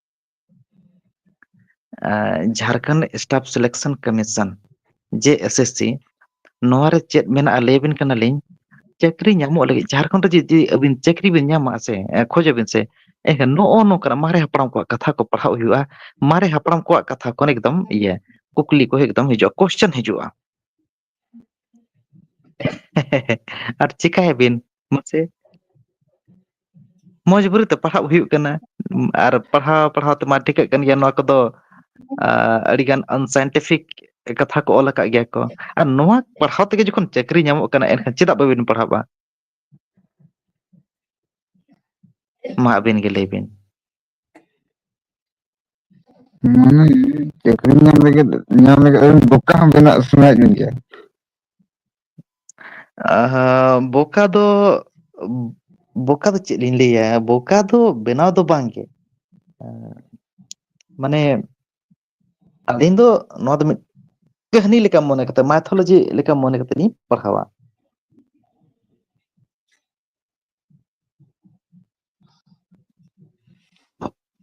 Jharkhand staff selection commission J S S C ᱱᱚᱣᱟ ᱨᱮ ᱪᱮᱫ ᱢᱮᱱᱟᱜᱼᱟ ᱞᱟᱹᱭ ᱟᱵᱤᱱ ᱠᱟᱱᱟᱞᱤᱧ ᱪᱟᱹᱠᱨᱤ ᱧᱟᱢᱚᱜ ᱞᱟᱹᱜᱤᱫ ᱡᱷᱟᱲᱠᱷᱚᱸᱰ ᱨᱮ ᱡᱩᱫᱤ ᱟᱹᱵᱤᱱ ᱪᱟᱹᱠᱨᱤ ᱵᱤᱱ ᱧᱟᱢᱟ ᱥᱮ ᱠᱷᱚᱡ ᱟᱵᱤᱱ ᱥᱮ ᱮᱱᱠᱷᱟᱱ ᱱᱚᱜᱼᱚ ᱱᱚᱝᱠᱟᱱᱟᱜ ᱢᱟᱨᱮ ᱦᱟᱯᱲᱟᱢ ᱠᱚᱣᱟᱜ ᱠᱟᱛᱷᱟ ᱠᱚ ᱯᱟᱲᱦᱟᱣ ᱦᱩᱭᱩᱜᱼᱟ ᱢᱟᱨᱮ ᱦᱟᱯᱲᱟᱢ ᱠᱚᱣᱟᱜ ᱠᱟᱛᱷᱟ ᱠᱚ ᱮᱠᱫᱚᱢ ᱤᱭᱟᱹ ᱠᱩᱠᱞᱤ ᱠᱚ ᱮᱠᱫᱚᱢ ᱦᱤᱡᱩᱜᱼᱟ ᱠᱚᱥᱪᱮᱱ ᱦᱤᱡᱩᱜᱼᱟ ᱟᱨ ᱪᱤᱠᱟᱹᱭ ᱟᱵᱤᱱ ᱢᱟᱥᱮ ᱢᱚᱸᱡᱽᱵᱩᱨᱤ ᱛᱮ ᱯᱟᱲᱦᱟᱜ ᱦᱩᱭᱩᱜ ᱠᱟᱱᱟ ᱟᱨ ᱯᱟᱲᱦᱟᱣ ᱯᱟᱲᱦᱟᱣ ᱛᱮᱢᱟ ᱴᱷᱤᱠᱟᱹᱜ ᱠᱟᱱ ᱜᱮᱭᱟ ᱱᱚᱣᱟ ᱠᱚᱫᱚ ᱟᱹᱰᱤᱜᱟᱱ ᱟᱱᱥᱟᱭᱮᱱᱴᱤᱯᱷᱤᱠ ᱠᱟᱛᱷᱟ ᱠᱚ ᱚᱞ ᱟᱠᱟᱫ ᱜᱮᱭᱟ ᱠᱚ ᱟᱨ ᱱᱚᱣᱟ ᱯᱟᱲᱦᱟᱣ ᱛᱮᱜᱮ ᱡᱚᱠᱷᱚᱱ ᱪᱟᱹᱠᱨᱤ ᱧᱟᱢᱚᱜ ᱠᱟᱱᱟ ᱮᱱᱠᱷᱟᱱ ᱪᱮᱫᱟᱜ ᱵᱟᱹᱵᱤᱱ ᱯᱟᱲᱦᱟᱣᱼᱟ ᱢᱟ ᱟᱹᱵᱤᱱ ᱜᱮ ᱞᱟᱹᱭ ᱵᱤᱱ ᱢᱟᱱᱮ ᱪᱟᱹᱠᱨᱤ ᱧᱟᱢ ᱞᱟᱹᱜᱤᱫ ᱧᱟᱢ ᱞᱟᱹᱜᱤᱫ ᱵᱚᱠᱟ ᱦᱚᱸ ᱵᱮᱱᱟᱜ ᱥᱟᱱᱟᱭᱮᱫ ᱢᱮ ᱜᱮᱭᱟ ᱟᱦᱟ ᱵᱚᱠᱟ ᱫᱚ ᱵᱚᱠᱟ ᱫᱚ ᱪᱮᱫ ᱞᱤᱧ ᱞᱟᱹᱭᱟ ᱵᱚᱠᱟ ᱫᱚ ᱵᱮᱱᱟᱣ ᱫᱚ ᱵᱟᱝᱜᱮ ᱢᱟᱱᱮ ᱟᱹᱞᱤᱧ ᱫᱚ ᱱᱚᱣᱟ ᱫᱚ ᱢᱤᱫ ᱠᱟᱹᱦᱱᱤ ᱞᱮᱠᱟ ᱢᱚᱱᱮ ᱠᱟᱛᱮ ᱢᱟᱭᱛᱷᱳᱞᱚᱡᱤ ᱞᱮᱠᱟ ᱢᱚᱱᱮ ᱠᱟᱛᱮ ᱞᱤᱧ ᱯᱟᱲᱦᱟᱣᱟ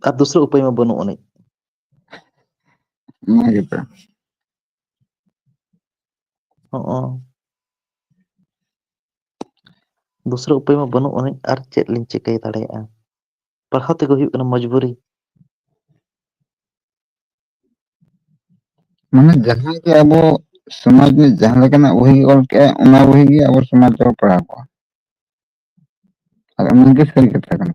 ᱟᱨ ᱫᱩᱥᱨᱟᱹ ᱩᱯᱟᱹᱭ ᱢᱟ ᱵᱟᱹᱱᱩᱜ ᱟᱹᱱᱤᱡ ᱚᱱᱟ ᱜᱮᱛᱚ ᱦᱚᱸᱜᱼᱚ ᱫᱩᱥᱨᱟᱹ ᱩᱯᱟᱹᱭ ᱢᱟ ᱵᱟᱹᱱᱩᱜ ᱟᱹᱱᱤᱡ ᱟᱨ ᱪᱮᱫ ᱞᱤᱧ ᱪᱤᱠᱟᱹᱭ ᱫᱟᱲᱮᱭᱟᱜᱼᱟ ᱯᱟᱲᱦᱟᱣ ᱛᱮᱜᱮ ᱦᱩᱭᱩᱜ ᱠᱟᱱᱟ ᱢᱚᱡᱽᱵᱩᱨᱤ ᱢᱟᱱᱮ ᱡᱟᱦᱟᱸ ᱜᱮ ᱟᱵᱚ ᱥᱚᱢᱟᱡᱽ ᱨᱤᱱᱤᱡ ᱡᱟᱦᱟᱸ ᱞᱮᱠᱟᱱᱟᱜ ᱵᱩᱦᱤ ᱜᱮ ᱚᱞ ᱠᱮᱫᱟᱭ ᱚᱱᱟ ᱵᱩᱦᱤ ᱜᱮ ᱟᱵᱚ ᱥᱚᱢᱟᱡᱽ ᱨᱮᱵᱚ ᱯᱟᱲᱦᱟᱣ ᱠᱚᱣᱟ ᱟᱨ ᱚᱱᱟ ᱜᱮ ᱥᱟᱹᱨᱤ ᱠᱟᱛᱷᱟ ᱠᱟᱱᱟ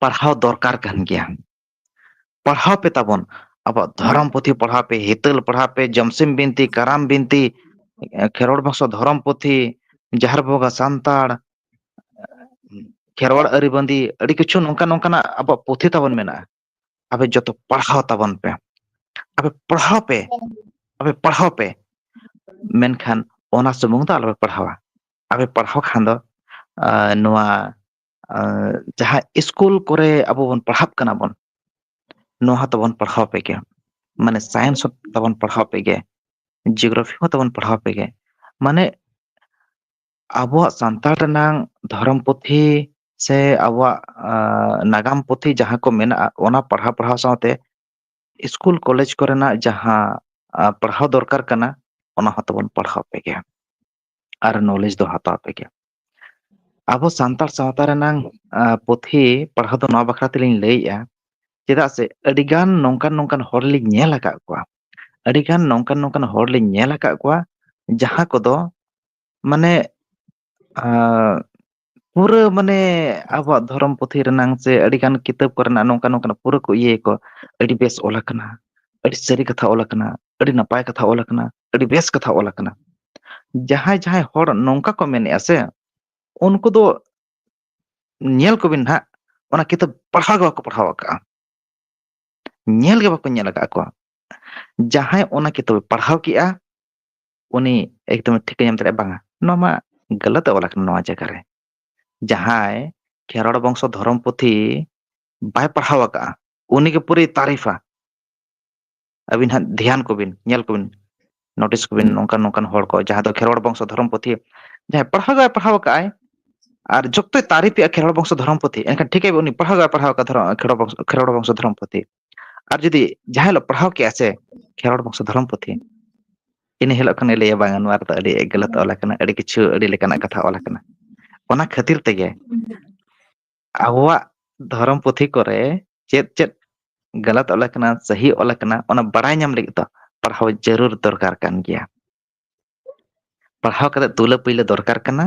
ᱯᱟᱲᱦᱟᱣ ᱫᱚᱨᱠᱟᱨ ᱠᱟᱱ ᱜᱮᱭᱟ ᱯᱟᱲᱦᱟᱣ ᱯᱮ ᱛᱟᱵᱚᱱ ᱟᱵᱚᱣᱟᱜ ᱫᱷᱚᱨᱚᱢ ᱯᱩᱛᱷᱤ ᱯᱟᱲᱦᱟᱣ ᱯᱮ ᱦᱤᱛᱟᱹᱞ ᱯᱟᱲᱦᱟᱣ ᱯᱮ ᱡᱚᱢᱥᱤᱢ ᱵᱤᱱᱛᱤ ᱠᱟᱨᱟᱢ ᱵᱤᱱᱛᱤ ᱠᱷᱮᱨᱣᱟᱲ ᱵᱚᱝᱥᱚ ᱫᱷᱚᱨᱚᱢ ᱯᱩᱛᱷᱤ ᱡᱟᱦᱮᱨ ᱵᱚᱸᱜᱟ ᱥᱟᱱᱛᱟᱲ ᱠᱷᱮᱨᱣᱟᱲ ᱟᱹᱨᱤ ᱵᱟᱸᱫᱤ ᱟᱹᱰᱤ ᱠᱤᱪᱷᱩ ᱱᱚᱝᱠᱟ ᱱᱚᱝᱠᱟᱱᱟᱜ ᱟᱵᱚᱣᱟᱜ ᱯᱩᱛᱷᱤ ᱛᱟᱵᱚᱱ ᱢᱮᱱᱟᱜᱼᱟ ᱟᱯᱮ ᱡᱚᱛᱚ ᱯᱟᱲᱦᱟᱣ ᱛᱟᱵᱚᱱ ᱯᱮ ᱟᱯᱮ ᱯᱟᱲᱦᱟᱣ ᱯᱮ ᱟᱯᱮ ᱯᱟᱲᱦᱟᱣ ᱯᱮ ᱢᱮᱱᱠᱷᱟᱱ ᱚᱱᱟ ᱥᱩᱢᱩᱝ ᱫᱚ ᱟᱞᱚᱯᱮ ᱯᱟᱲᱦᱟᱣᱟ ᱟᱯᱮ ᱯᱟᱲᱦᱟᱣ ᱠᱷᱟᱱ ᱫᱚ ᱱᱚᱣᱟ ᱡᱟᱦᱟᱸ ᱤᱥᱠᱩᱞ ᱠᱚᱨᱮ ᱟᱵᱚ ᱵᱚᱱ ᱯᱟᱲᱦᱟᱜ ᱠᱟᱱᱟ ᱵᱚᱱ ᱱᱚᱣᱟ ᱦᱚᱸᱛᱚ ᱵᱚᱱ ᱯᱟᱲᱦᱟᱣ ᱟᱯᱮ ᱜᱮᱭᱟ ᱢᱟᱱᱮ ᱥᱟᱭᱮᱱᱥ ᱦᱚᱸ ᱛᱟᱵᱚᱱ ᱯᱟᱲᱦᱟᱣ ᱟᱯᱮ ᱜᱮᱭᱟ ᱡᱤᱭᱳᱜᱨᱟᱯᱷᱤ ᱦᱚᱸ ᱛᱟᱵᱚᱱ ᱯᱟᱲᱦᱟᱣ ᱟᱯᱮ ᱜᱮᱭᱟ ᱢᱟᱱᱮ ᱟᱵᱚᱣᱟᱜ ᱥᱟᱱᱛᱟᱲ ᱨᱮᱱᱟᱝ ᱫᱷᱚᱨᱚᱢ ᱯᱩᱛᱷᱤ ᱥᱮ ᱟᱵᱚᱣᱟᱜ ᱱᱟᱜᱟᱢ ᱯᱩᱛᱷᱤ ᱡᱟᱦᱟᱸ ᱠᱚ ᱢᱮᱱᱟᱜᱼᱟ ᱚᱱᱟ ᱯᱟᱲᱦᱟᱣ ᱯᱟᱲᱦᱟᱣ ᱥᱟᱶᱛᱮ ᱤᱥᱠᱩᱞ ᱠᱚᱞᱮᱡᱽ ᱠᱚᱨᱮᱱᱟᱜ ᱡᱟᱦᱟᱸ ᱯᱟᱲᱦᱟᱣ ᱫᱚᱨᱠᱟᱨ ᱠᱟᱱᱟ ᱚᱱᱟ ᱦᱚᱸᱛᱚ ᱵᱚᱱ ᱯᱟᱲᱦᱟᱣ ᱟᱯᱮ ᱜᱮᱭᱟ ᱟᱨ ᱱᱚᱞᱮᱡᱽ ᱫᱚ ᱦᱟᱛᱟᱣ ᱛᱮᱜᱮ ᱟᱵᱚ ᱥᱟᱱᱛᱟᱲ ᱥᱟᱶᱛᱟ ᱨᱮᱱᱟᱝ ᱯᱩᱛᱷᱤ ᱯᱟᱲᱦᱟᱣ ᱫᱚ ᱱᱚᱣᱟ ᱵᱟᱠᱷᱨᱟ ᱛᱮᱞᱤᱧ ᱞᱟᱹᱭᱮᱜᱼᱟ ᱪᱮᱫᱟᱜ ᱥᱮ ᱟᱹᱰᱤᱜᱟᱱ ᱱᱚᱝᱠᱟᱱ ᱱᱚᱝᱠᱟᱱ ᱦᱚᱲ ᱞᱤᱧ ᱧᱮᱞ ᱟᱠᱟᱫ ᱠᱚᱣᱟ ᱟᱹᱰᱤᱜᱟᱱ ᱱᱚᱝᱠᱟᱱ ᱱᱚᱝᱠᱟᱱ ᱦᱚᱲ ᱞᱤᱧ ᱧᱮᱞ ᱟᱠᱟᱫ ᱠᱚᱣᱟ ᱡᱟᱦᱟᱸ ᱠᱚᱫᱚ ᱢᱟᱱᱮ ᱟᱻ ᱯᱩᱨᱟᱹ ᱢᱟᱱᱮ ᱟᱵᱚᱣᱟᱜ ᱫᱷᱚᱨᱚᱢ ᱯᱩᱛᱷᱤ ᱨᱮᱱᱟᱝ ᱥᱮ ᱟᱹᱰᱤ ᱜᱟᱱ ᱠᱤᱛᱟᱹᱵ ᱠᱚ ᱨᱮᱱᱟᱜ ᱱᱚᱝᱠᱟ ᱱᱚᱝᱠᱟᱱᱟᱜ ᱯᱩᱨᱟᱹ ᱠᱚ ᱤᱭᱟᱹᱭᱟ ᱠᱚ ᱟᱹᱰᱤ ᱵᱮᱥ ᱚᱞ ᱟᱠᱟᱱᱟ ᱟᱹᱰᱤ ᱥᱟᱹᱨᱤ ᱠᱟᱛᱷᱟ ᱚᱞ ᱟᱠᱟᱱᱟ ᱟᱹᱰᱤ ᱱᱟᱯᱟᱭ ᱠᱟᱛᱷᱟ ᱚᱞ ᱟᱠᱟᱱᱟ ᱟᱹᱰᱤ ᱵᱮᱥ ᱠᱟᱛᱷᱟ ᱚᱞ ᱟᱠᱟᱱᱟ ᱡᱟᱦᱟᱸᱭ ᱡᱟᱦᱟᱸᱭ ᱦᱚᱲ ᱱᱚᱝᱠᱟ ᱠᱚ ᱢᱮᱱᱮᱜᱼᱟ ᱥᱮ ᱩᱱᱠᱩ ᱫᱚ ᱧᱮᱞ ᱠᱚᱵᱤᱱ ᱱᱟᱦᱟᱜ ᱚᱱᱟ ᱠᱤᱛᱟᱹᱵ ᱯᱟᱲᱦᱟᱣ ᱜᱮ ᱵᱟᱠᱚ ᱯᱟᱲᱦᱟᱣ ᱟᱠᱟᱜᱼᱟ ᱧᱮᱞ ᱜᱮ ᱵᱟᱠᱚ ᱧᱮᱞ ᱟᱠᱟᱜ ᱠᱚᱣᱟ ᱡᱟᱦᱟᱸᱭ ᱚᱱᱟ ᱠᱤᱛᱟᱹᱵ ᱮ ᱯᱟᱲᱦᱟᱣ ᱠᱮᱜᱼᱟ ᱩᱱᱤ ᱮᱠᱫᱚᱢᱮ ᱴᱷᱤᱠᱟᱹ ᱧᱟᱢ ᱫᱟᱲᱮᱭᱟᱜᱼᱟ ᱵᱟᱝᱟ ᱱᱚᱣᱟ ᱢᱟ ᱜᱟᱹᱞᱟᱹᱛ ᱚᱞ ᱟᱠᱟᱱᱟ ᱱᱚᱣᱟ ᱡᱟᱭᱜᱟ ᱨᱮ ᱡᱟᱦᱟᱸᱭ ᱠᱷᱮᱨᱣᱟᱲ ᱵᱚᱝᱥᱚ ᱫᱷᱚᱨᱚᱢ ᱯᱩᱛᱷᱤ ᱵᱟᱭ ᱯᱟᱲᱦᱟᱣ ᱟᱠᱟᱜᱼᱟ ᱩᱱᱤᱜᱮ ᱯᱩᱨᱟᱹᱭ ᱛᱟᱨᱤᱯᱷᱟ ᱟᱹᱵᱤᱱ ᱦᱟᱸᱜ ᱫᱷᱮᱭᱟᱱ ᱠᱚᱵᱤᱱ ᱧᱮᱞ ᱠᱚᱵᱤᱱ ᱱᱳᱴᱤᱥ ᱠᱚᱵᱤᱱ ᱱᱚᱝᱠᱟᱱ ᱱᱚᱝᱠᱟᱱ ᱦᱚᱲ ᱠᱚ ᱡᱟᱦᱟᱸ ᱫᱚ ᱠᱷᱮᱨᱣᱟᱲ ᱵᱚᱝᱥᱚ ᱫᱷᱚᱨᱚᱢ ᱯᱩᱛᱷᱤ ᱡᱟᱦᱟᱸᱭ ᱯᱟᱲᱦᱟᱣ ᱜᱮ ᱵᱟᱭ ᱯᱟᱲᱦᱟᱣ ᱟᱠᱟᱫ ᱟᱭ ᱟᱨ ᱡᱚᱠᱛᱚᱭ ᱛᱟᱨᱤᱯᱮᱜᱼᱟ ᱠᱷᱮᱨᱣᱟᱲ ᱵᱚᱝᱥᱚ ᱫᱷᱚᱨᱚᱢ ᱯᱩᱛᱷᱤ ᱮᱱᱠᱷᱟᱱ ᱴᱷᱤᱠᱟᱹᱭ ᱩᱱᱤ ᱯᱟᱲᱦᱟᱣ ᱜᱮ ᱵᱟᱭ ᱯᱟᱲᱦᱟᱣ ᱟᱠᱟᱫ ᱫᱷᱚᱨᱚᱢ ᱠᱷᱮᱨᱣᱟᱲ ᱵᱚᱝᱥᱚ ᱫᱷᱚᱨᱚᱢ ᱯᱩᱛᱷᱤ ᱟᱨ ᱡᱩᱫᱤ ᱡᱟᱦᱟᱸ ᱦᱤᱞᱳᱜ ᱯᱟᱲᱦᱟᱣ ᱠᱮᱜᱼᱟ ᱥᱮ ᱠᱷᱮᱨᱣᱟᱲ ᱵᱚᱝᱥᱚ ᱫᱷᱚᱨᱚᱢ ᱯᱩᱛᱷᱤ ᱤᱱᱟᱹ ᱦᱤᱞᱳᱜ ᱠᱷᱚᱱᱮ ᱞᱟᱹᱭᱟ ᱵᱟᱝᱟ ᱱᱚᱣᱟ ᱨᱮᱫᱚ ᱟᱹᱰᱤ ᱜᱟᱹᱞᱟᱹᱛ ᱚᱞ ᱟᱠᱟᱱᱟ ᱟᱹᱰᱤ ᱠᱤᱪᱷᱩ ᱟᱹᱰᱤ ᱞᱮᱠᱟᱱᱟᱜ ᱠᱟᱛᱷᱟ ᱚᱞ ᱟᱠᱟᱱᱟ ᱚᱱᱟ ᱠᱷᱟᱹᱛᱤᱨ ᱛᱮᱜᱮ ᱟᱵᱚᱣᱟᱜ ᱫᱷᱚᱨᱚᱢ ᱯᱩᱛᱷᱤ ᱠᱚᱨᱮ ᱪᱮᱫ ᱪᱮᱫ ᱜᱟᱞᱟᱛ ᱚᱞ ᱟᱠᱟᱱᱟ ᱥᱟᱹᱦᱤ ᱚᱞ ᱟᱠᱟᱱᱟ ᱚᱱᱟ ᱵᱟᱲᱟᱭ ᱧᱟᱢ ᱞᱟᱹᱜᱤᱫ ᱫᱚ ᱯᱟᱲᱦᱟᱣ ᱡᱟᱹᱨᱩᱲ ᱫᱚᱨᱠᱟᱨ ᱠᱟᱱ ᱜᱮᱭᱟ ᱯᱟᱲᱦᱟᱣ ᱠᱟᱛᱮᱫ ᱛᱩᱞᱟᱹ ᱯᱩᱭᱞᱟᱹ ᱫᱚᱨᱠᱟᱨ ᱠᱟᱱᱟ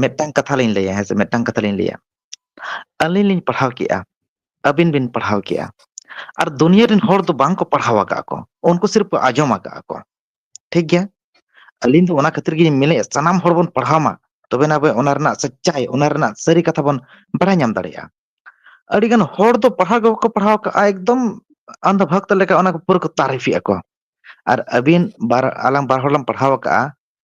ᱢᱤᱫᱴᱟᱝ ᱠᱟᱛᱷᱟ ᱞᱤᱧ ᱞᱟᱹᱭᱟ ᱦᱮᱸ ᱥᱮ ᱢᱤᱫᱴᱟᱝ ᱠᱟᱛᱷᱟ ᱞᱤᱧ ᱞᱟᱹᱭᱟ ᱟᱹᱞᱤᱧ ᱞᱤᱧ ᱯᱟᱲᱦᱟᱣ ᱠᱮᱜᱼᱟ ᱟᱹᱵᱤᱱ ᱵᱤᱱ ᱯᱟᱲᱦᱟᱣ ᱠᱮᱜᱼᱟ ᱟᱨ ᱫᱩᱱᱭᱟᱹ ᱨᱮᱱ ᱦᱚᱲ ᱫᱚ ᱵᱟᱝ ᱠᱚ ᱯᱟᱲᱦᱟᱣ ᱟᱠᱟᱫ ᱠᱚ ᱩᱱᱠᱩ ᱥᱤᱨᱯ ᱠᱚ ᱟᱸᱡᱚᱢ ᱟᱠᱟᱫᱼᱟ ᱠᱚ ᱴᱷᱤᱠ ᱜᱮᱭᱟ ᱟᱹᱞᱤᱧ ᱫᱚ ᱚᱱᱟ ᱠᱷᱟᱹᱛᱤᱨ ᱜᱮᱞᱤᱧ ᱢᱮᱱᱮᱫᱼᱟ ᱥᱟᱱᱟᱢ ᱦᱚᱲ ᱵᱚᱱ ᱯᱟᱲᱦᱟᱣ ᱢᱟ ᱛᱚᱵᱮ ᱱᱟ ᱟᱵᱚ ᱚᱱᱟ ᱨᱮᱱᱟᱜ ᱥᱟᱪᱟᱭ ᱚᱱᱟ ᱨᱮᱱᱟᱜ ᱥᱟᱹᱨᱤ ᱠᱟᱛᱷᱟ ᱵᱚᱱ ᱵᱟᱲᱟᱭ ᱧᱟᱢ ᱫᱟᱲᱮᱭᱟᱜᱼᱟ ᱟᱹᱰᱤᱜᱟᱱ ᱦᱚᱲ ᱫᱚ ᱯᱟᱲᱦᱟᱣ ᱜᱮ ᱵᱟᱠᱚ ᱯᱟᱲᱦᱟᱣ ᱠᱟᱜᱼᱟ ᱮᱠᱫᱚᱢ ᱟᱢᱫᱟ ᱵᱷᱟᱜᱽ ᱞᱮᱠᱟ ᱚᱱᱟ ᱯᱩᱨᱟᱹ ᱠᱚ ᱛᱟᱨᱤᱯᱷᱮᱜᱼᱟ ᱠᱚ ᱟᱨ ᱟᱹᱵᱤᱱ ᱵᱟᱨ ᱟᱞᱟᱝ ᱵᱟᱨ ᱦᱚᱲ ᱞᱟᱝ ᱯᱟᱲᱦᱟᱣ ᱟᱠᱟᱜᱼᱟ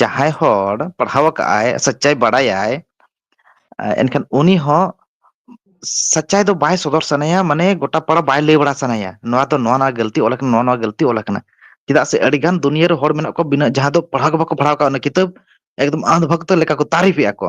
ᱡᱟᱦᱟᱸᱭ ᱦᱚᱲ ᱯᱟᱲᱦᱟᱣ ᱟᱠᱟᱫ ᱟᱭ ᱥᱟᱪᱟᱭ ᱵᱟᱲᱟᱭᱟᱭ ᱮᱱᱠᱷᱟᱱ ᱩᱱᱤ ᱦᱚᱸ ᱥᱟᱪᱟᱭ ᱫᱚ ᱵᱟᱭ ᱥᱚᱫᱚᱨ ᱥᱟᱱᱟᱭᱟ ᱢᱟᱱᱮ ᱜᱚᱴᱟ ᱯᱟᱲᱟ ᱵᱟᱭ ᱞᱟᱹᱭ ᱵᱟᱲᱟ ᱥᱟᱱᱟᱭᱟ ᱱᱚᱣᱟ ᱫᱚ ᱱᱚᱣᱟ ᱱᱚᱣᱟ ᱜᱟᱹᱞᱛᱤ ᱚᱞ ᱟᱠᱟᱱᱟ ᱱᱚᱣᱟ ᱱᱚᱣᱟ ᱜᱟᱹᱞᱛᱤ ᱚᱞ ᱟᱠᱟᱱᱟ ᱪᱮᱫᱟᱜ ᱥᱮ ᱟᱹᱰᱤ ᱜᱟᱱ ᱫᱩᱱᱭᱟᱹ ᱨᱮ ᱦᱚᱲ ᱢᱮᱱᱟᱜ ᱠᱚᱣᱟ ᱵᱤᱱᱟᱹ ᱡᱟᱦᱟᱸ ᱫᱚ ᱯᱟᱲᱦᱟᱣ ᱜᱮ ᱵᱟᱠᱚ ᱯᱟᱲᱦᱟᱣ ᱠᱟᱜᱼᱟ ᱚᱱᱟ ᱠᱤᱛᱟᱹᱵ ᱮᱠᱫᱚᱢ ᱟᱸᱫ ᱵᱷᱚᱠᱛᱚ ᱞᱮᱠᱟ ᱠᱚ ᱛᱟᱹᱨᱤᱯᱷᱮᱜᱼᱟ ᱠᱚ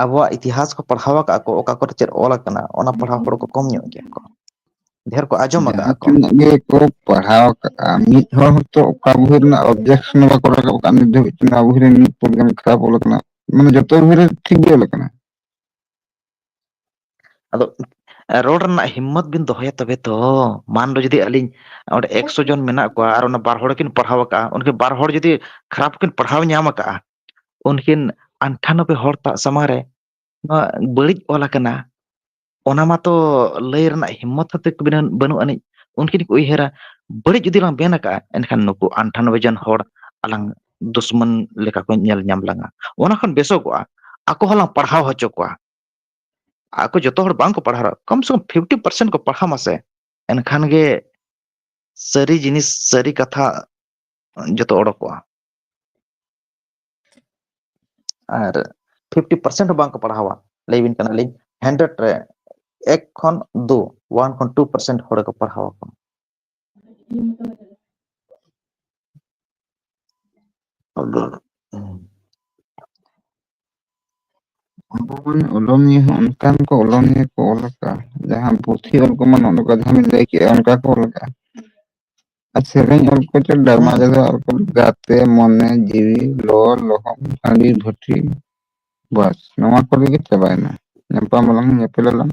ᱟᱵᱚᱣᱟᱜ ᱤᱛᱤᱦᱟᱥ ᱠᱚ ᱯᱟᱲᱦᱟᱣ ᱟᱠᱟᱜᱼᱟ ᱠᱚ ᱚᱠᱟ ᱠᱚᱨᱮ ᱪᱮᱫ ᱚᱞ ᱟᱠᱟᱱᱟ ᱚᱱᱟ ᱯᱟᱲᱦᱟᱣ ᱦᱚᱲ ᱠᱚ ᱠᱚᱢ ᱧᱚᱜ ᱜᱮᱭᱟ ᱠᱚ ᱰᱷᱮᱨ ᱠᱚ ᱟᱸᱡᱚᱢ ᱟᱠᱟᱜᱼᱟ ᱡᱟᱦᱟᱸ ᱠᱚ ᱛᱤᱱᱟᱹᱜ ᱜᱮ ᱠᱚ ᱯᱟᱲᱦᱟᱣ ᱟᱠᱟᱜᱼᱟ ᱢᱤᱫ ᱦᱚᱲ ᱦᱚᱸᱛᱚ ᱚᱠᱟ ᱵᱚᱦᱤ ᱨᱮᱱᱟᱜ ᱚᱵᱽᱡᱮᱠᱥᱚᱱ ᱦᱚᱸ ᱵᱟᱠᱚ ᱨᱟᱠᱟᱵ ᱟᱠᱟᱫ ᱱᱤᱛ ᱫᱷᱟᱹᱵᱤᱡ ᱛᱮ ᱱᱚᱣᱟ ᱵᱚᱦᱤ ᱨᱮ ᱱᱩᱱᱟᱹᱜ ᱯᱚᱨᱤᱢᱟᱱ ᱠᱷᱟᱨᱟᱯ ᱚᱞ ᱟᱠᱟᱱᱟ ᱢᱟᱱᱮ ᱡᱚᱛᱚ ᱵᱚᱦᱤ ᱨᱮ ᱴᱷᱤᱠ ᱜᱮ ᱚᱞ ᱟᱠᱟᱱᱟ ᱟᱫᱚ ᱨᱚᱲ ᱨᱮᱱᱟᱜ ᱦᱤᱢᱢᱚᱛ ᱵᱤᱱ ᱫᱚᱦᱚᱭᱟ ᱛᱚᱵᱮ ᱛᱚ ᱢᱟᱱ ᱞᱚ ᱡᱩᱫᱤ ᱟᱹᱞᱤᱧ ᱚᱸᱰᱮ ᱮᱠᱥᱚ ᱡᱚᱱ ᱢᱮᱱᱟᱜ ᱠᱚᱣᱟ ᱟᱨ ᱚᱱᱟ ᱵᱟᱨ ᱦᱚᱲ ᱠᱤᱱ ᱯᱟᱲᱦᱟᱣ ᱠᱟᱜᱼᱟ ᱩᱱᱠᱤ ᱵᱟᱨ ᱦᱚᱲ ᱡᱩᱫᱤ ᱠᱷᱟᱨᱟᱯ ᱠᱤᱱ ᱯᱟᱲᱦᱟᱣ ᱧᱟᱢ ᱠᱟᱜᱼᱟ ᱩᱱᱠᱤᱱ ᱟᱴᱷᱟᱱᱚᱵᱵᱮ ᱦᱚᱲ ᱛᱟᱜ ᱥᱟᱢᱟᱝ ᱨᱮ ᱱᱚᱣᱟ ᱵᱟᱹᱲᱤᱡ ᱚᱞ ᱟᱠᱟᱱᱟ ᱚᱱᱟ ᱢᱟᱛᱚ ᱞᱟᱹᱭ ᱨᱮᱱᱟᱜ ᱦᱤᱢᱚᱛ ᱦᱚᱛᱮ ᱠᱚ ᱵᱟᱹᱱᱩᱜ ᱟᱹᱱᱤᱡ ᱩᱱᱠᱤᱱ ᱠᱚ ᱩᱭᱦᱟᱹᱨᱟ ᱵᱟᱹᱲᱤᱡ ᱡᱩᱫᱤ ᱞᱟᱝ ᱢᱮᱱ ᱠᱟᱜᱼᱟ ᱮᱱᱠᱷᱟᱱ ᱱᱩᱠᱩ ᱟᱱᱴᱷᱟᱱᱚᱵᱵᱚᱭ ᱡᱚᱱ ᱦᱚᱲ ᱟᱞᱟᱝ ᱫᱩᱥᱢᱚᱱ ᱞᱮᱠᱟ ᱠᱚ ᱧᱮᱞ ᱧᱟᱢ ᱞᱟᱝᱟ ᱚᱱᱟ ᱠᱷᱚᱱ ᱵᱮᱥᱚᱜᱚᱜᱼᱟ ᱟᱠᱚ ᱦᱚᱸᱞᱟᱝ ᱯᱟᱲᱦᱟᱣ ᱦᱚᱪᱚ ᱠᱚᱣᱟ ᱟᱠᱚ ᱡᱚᱛᱚ ᱦᱚᱲ ᱵᱟᱝᱠᱚ ᱯᱟᱲᱦᱟᱣ ᱠᱚᱢ ᱥᱮ ᱠᱚᱢ ᱯᱷᱤᱯᱴᱤ ᱯᱟᱨᱥᱮᱱᱴ ᱠᱚ ᱯᱟᱲᱦᱟᱣ ᱢᱟᱥᱮ ᱮᱱᱠᱷᱟᱱ ᱜᱮ ᱥᱟᱹᱨᱤ ᱡᱤᱱᱤᱥ ᱥᱟᱹᱨᱤ ᱠᱟᱛᱷᱟ ᱡᱚᱛᱚ ᱚᱰᱚᱠᱚᱜᱼᱟ ᱟᱨ ᱯᱷᱤᱯᱴᱤ ᱯᱟᱨᱥᱮᱱᱴ ᱦᱚᱸ ᱵᱟᱝᱠᱚ ᱯᱟᱲᱦᱟᱣᱟ ᱞᱟᱹᱭᱵᱤᱱ ᱠᱟᱱᱟᱞᱤᱧ ᱦᱟᱱᱰᱨᱮᱰ ᱨᱮ ᱮᱠ ᱠᱷᱚᱱ ᱫᱩ ᱳᱣᱟᱱ ᱠᱷᱚᱱ ᱴᱩ ᱯᱟᱨᱥᱮᱱᱴ ᱦᱚᱲ ᱠᱚ ᱯᱟᱲᱦᱟᱣ ᱟᱠᱚ ᱟᱫᱚ ᱟᱵᱚ ᱵᱚᱱ ᱚᱞᱚᱱᱤᱭᱟᱹ ᱦᱚᱸ ᱚᱱᱠᱟᱱ ᱠᱚ ᱚᱞᱚᱱᱤᱭᱟᱹ ᱠᱚ ᱚᱞ ᱟᱠᱟᱜᱼᱟ ᱡᱟᱦᱟᱸ ᱯᱩᱛᱷᱤ ᱚᱞ ᱠᱚᱢᱟ ᱱᱚᱜ ᱱᱚᱝᱠᱟ ᱡᱟᱦᱟᱸ ᱵᱤᱱ ᱞᱟᱹᱭ ᱠᱮᱜᱼᱟ ᱚᱱᱠᱟ ᱠᱚ ᱚᱞ ᱟᱠᱟᱜᱼᱟ ᱟᱨ ᱥᱮᱨᱮᱧ ᱚᱞ ᱠᱚᱪᱚ ᱰᱨᱟᱢᱟ ᱦᱮᱸ ᱨᱮᱫᱚ ᱟᱨ ᱜᱟᱛᱮ ᱢᱚᱱᱮ ᱡᱤᱣᱤ ᱞᱚᱣᱟᱨ ᱞᱚᱦᱚᱢ ᱦᱟᱺᱰᱤ ᱵᱷᱩᱴᱤ ᱵᱟᱥ ᱱᱚᱣᱟ ᱠᱚᱨᱮ ᱜᱮ ᱪᱟᱵᱟᱭᱮᱱᱟ ᱧᱟᱯᱟᱢ ᱟᱞᱟᱝ ᱧᱮᱯᱮᱞ ᱟᱞᱟᱝ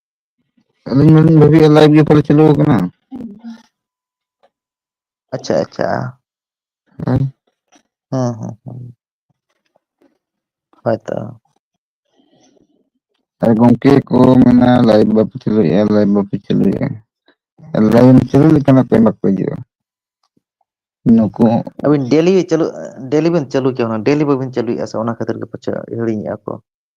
ᱟᱹᱞᱤᱧ ᱢᱟᱞᱤᱧ ᱵᱷᱟᱹᱵᱤᱭᱟ ᱞᱟᱭᱤᱵ ᱜᱮ ᱯᱟᱞᱮ ᱪᱟᱹᱞᱩ ᱟᱠᱟᱱᱟ ᱾ ᱟᱪᱪᱷᱟ ᱟᱪᱪᱷᱟ ᱾ ᱦᱮᱸ ᱦᱮᱸ ᱦᱮᱸ ᱦᱮᱸ ᱾ ᱦᱳᱭ ᱛᱚ ᱾ ᱟᱨ ᱜᱚᱝᱠᱮ ᱠᱚ ᱢᱮᱱᱟ ᱞᱟᱭᱤᱵ ᱵᱟᱯᱮ ᱪᱟᱹᱞᱩᱭᱮᱜᱼᱟ ᱞᱟᱭᱤᱵ ᱵᱟᱯᱮ ᱪᱟᱹᱞᱩᱭᱮᱜᱼᱟ ᱾ ᱞᱟᱭᱤᱱ ᱪᱟᱹᱞᱩ ᱞᱮᱠᱷᱟᱱ ᱦᱟᱯᱮ ᱵᱟᱠᱚ ᱦᱤᱡᱩᱜᱼᱟ ᱱᱩᱠᱩ ᱦᱚᱸ ᱾ ᱟᱹᱵᱤᱱ ᱰᱮᱞᱤ ᱪᱟᱹᱞᱩᱜ ᱰᱮᱞᱤ ᱵᱤᱱ ᱪᱟᱹᱞᱩ ᱦᱚᱪᱚ ᱠᱟᱱᱟ ᱰᱮᱞᱤ ᱵᱟᱹᱵᱤᱱ ᱪᱟᱹᱞᱩᱭᱮᱫᱼᱟ ᱥᱮ ᱚᱱᱟ ᱠᱷᱟᱹᱛᱤᱨ ᱜᱮ ᱯᱟᱪᱮᱫ ᱦᱤᱲᱤᱧᱮᱫᱼᱟ ᱠᱚ ᱾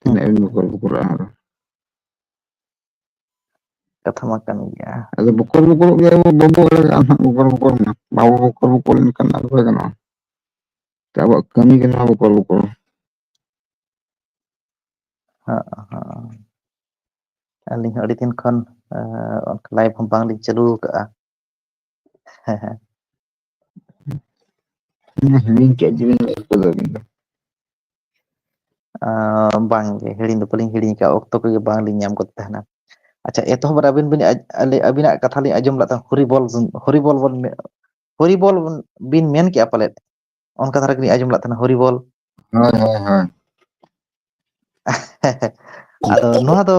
ᱛᱤᱱᱟᱹᱜ ᱮᱢ ᱵᱚᱠᱚᱞ ᱵᱚᱠᱚᱞᱚᱜᱼᱟ ᱟᱨ ᱦᱚᱸ ᱠᱟᱛᱷᱟ ᱢᱟ ᱠᱟᱱ ᱜᱮᱭᱟ ᱟᱫᱚ ᱵᱚᱠᱚᱞ ᱵᱚᱠᱚᱞ ᱜᱮ ᱟᱵᱚ ᱵᱟᱵᱚ ᱫᱟᱲᱮᱭᱟᱜᱼᱟ ᱦᱟᱸᱜ ᱵᱚᱠᱚᱞ ᱵᱚᱠᱚᱞ ᱢᱟ ᱵᱟᱵᱚ ᱵᱚᱠᱚᱞ ᱵᱚᱠᱚᱞ ᱞᱮᱱᱠᱷᱟᱱ ᱟᱫᱚ ᱵᱟᱭ ᱜᱟᱱᱚᱜᱼᱟ ᱟᱵᱚᱣᱟᱜ ᱠᱟᱹᱢᱤ ᱜᱮ ᱱᱚᱣᱟ ᱵᱚᱠᱚᱞ ᱵᱚᱠᱚᱞ ᱦᱟᱸᱜ ᱦᱟᱸᱜ ᱟᱹᱞᱤᱧ ᱦᱚᱸ ᱟᱹᱰᱤ ᱫᱤᱱ ᱠᱷᱚᱱ ᱞᱟᱭᱤᱵᱷ ᱦᱚᱸ ᱵᱟᱝᱞᱤᱧ ᱪᱟᱹᱞᱩ ᱟᱠᱟᱜᱼᱟ ᱦᱮᱸ ᱦᱮᱸ ᱦᱤᱲᱤᱧ ᱠᱮᱫ ᱡᱤᱱᱤᱥ ᱵᱤᱱ ᱞᱟᱹᱭ ᱠᱮᱫᱟ ᱟᱹᱵᱤᱱ ᱫᱚ ᱵᱟᱝ ᱜᱮ ᱦᱤᱲᱤᱧ ᱫᱚ ᱵᱟᱞᱤᱧ ᱦᱤᱲᱤᱧ ᱟᱠᱟᱫᱼᱟ ᱚᱠᱛᱚ ᱠᱚᱜᱮ ᱵᱟᱝᱞᱤᱧ ᱧᱟᱢ ᱜᱚᱫ ᱛᱟᱦᱮᱱᱟ ᱟᱪᱪᱷᱟ ᱮᱛᱚᱦᱚᱵ ᱨᱮ ᱟᱹᱵᱤᱱ ᱵᱤᱱ ᱟᱹᱵᱤᱱᱟᱜ ᱠᱟᱛᱷᱟ ᱞᱤᱧ ᱟᱸᱡᱚᱢ ᱞᱮᱫ ᱛᱟᱦᱮᱸ ᱦᱚᱨᱤᱵᱚᱞ ᱦᱚᱨᱤᱵᱚᱞ ᱵᱚᱱ ᱦᱚᱨᱤᱵᱚᱞ ᱵᱤᱱ ᱢᱮᱱ ᱠᱮᱜᱼᱟ ᱯᱟᱞᱮᱫ ᱚᱱᱠᱟ ᱫᱷᱟᱨᱟ ᱜᱮᱞᱤᱧ ᱟᱸᱡᱚᱢ ᱞᱮᱫ ᱛᱟᱦᱮᱱᱟ ᱦᱚᱨᱤᱵᱚᱞ ᱦᱳᱭ ᱦᱳᱭ ᱦᱳᱭ ᱟᱫᱚ ᱱᱚᱣᱟ ᱫᱚ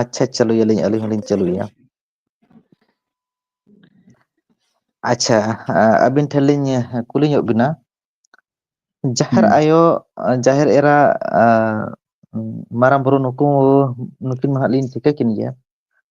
ᱟᱪᱪᱷᱟ ᱪᱟᱹᱞᱩᱭᱟᱞᱤᱧ ᱟᱹᱞᱤᱧ ᱦᱚᱞᱤᱧ ᱪᱟᱹᱞᱩᱭᱟ ᱟᱪᱪᱷᱟ ᱟᱹᱵᱤᱱ ᱴᱷᱮᱱ ᱞᱤᱧ ᱠᱩᱞᱤ ᱧᱚᱜ ᱵᱤᱱᱟ ᱡᱟᱦᱮᱨ ᱦᱩᱸ ᱟᱭᱳ ᱡᱟᱦᱮᱨ ᱮᱨᱟ ᱢᱟᱨᱟᱝ ᱵᱩᱨᱩ ᱱᱩᱠᱩ ᱱᱩᱠᱤᱱ ᱢᱟ ᱦᱟᱸᱜ ᱞᱤᱧ ᱴᱷᱤᱠᱟᱹ ᱠᱤᱱ ᱜᱮᱭᱟ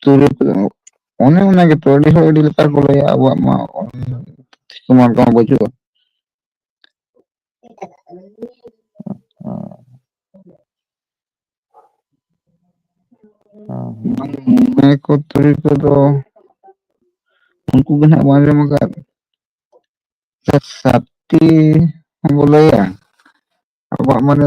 ᱛᱩᱨᱩᱭ ᱠᱚ ᱮᱢᱚᱜ ᱚᱱᱮ ᱚᱱᱟ ᱜᱮᱛᱚ ᱟᱹᱰᱤ ᱦᱚᱲ ᱟᱹᱰᱤ ᱞᱮᱠᱟ ᱠᱚ ᱞᱟᱹᱭᱟ ᱟᱵᱚᱣᱟᱜ ᱢᱟ ᱛᱩᱢᱟᱹᱞ ᱠᱚᱦᱚᱸ ᱵᱟᱹᱪᱩᱜᱼᱟ ᱢᱚᱬᱮ ᱠᱚ ᱛᱩᱨᱩᱭ ᱠᱚᱫᱚ ᱩᱱᱠᱩ ᱜᱮ ᱱᱟᱜ ᱵᱟᱝ ᱟᱸᱡᱚᱢ ᱟᱠᱟᱫ ᱥᱟᱛᱴᱤ ᱦᱚᱸᱵᱚ ᱞᱟᱹᱭᱟ ᱟᱵᱚᱣᱟᱜ ᱢᱟᱱᱮ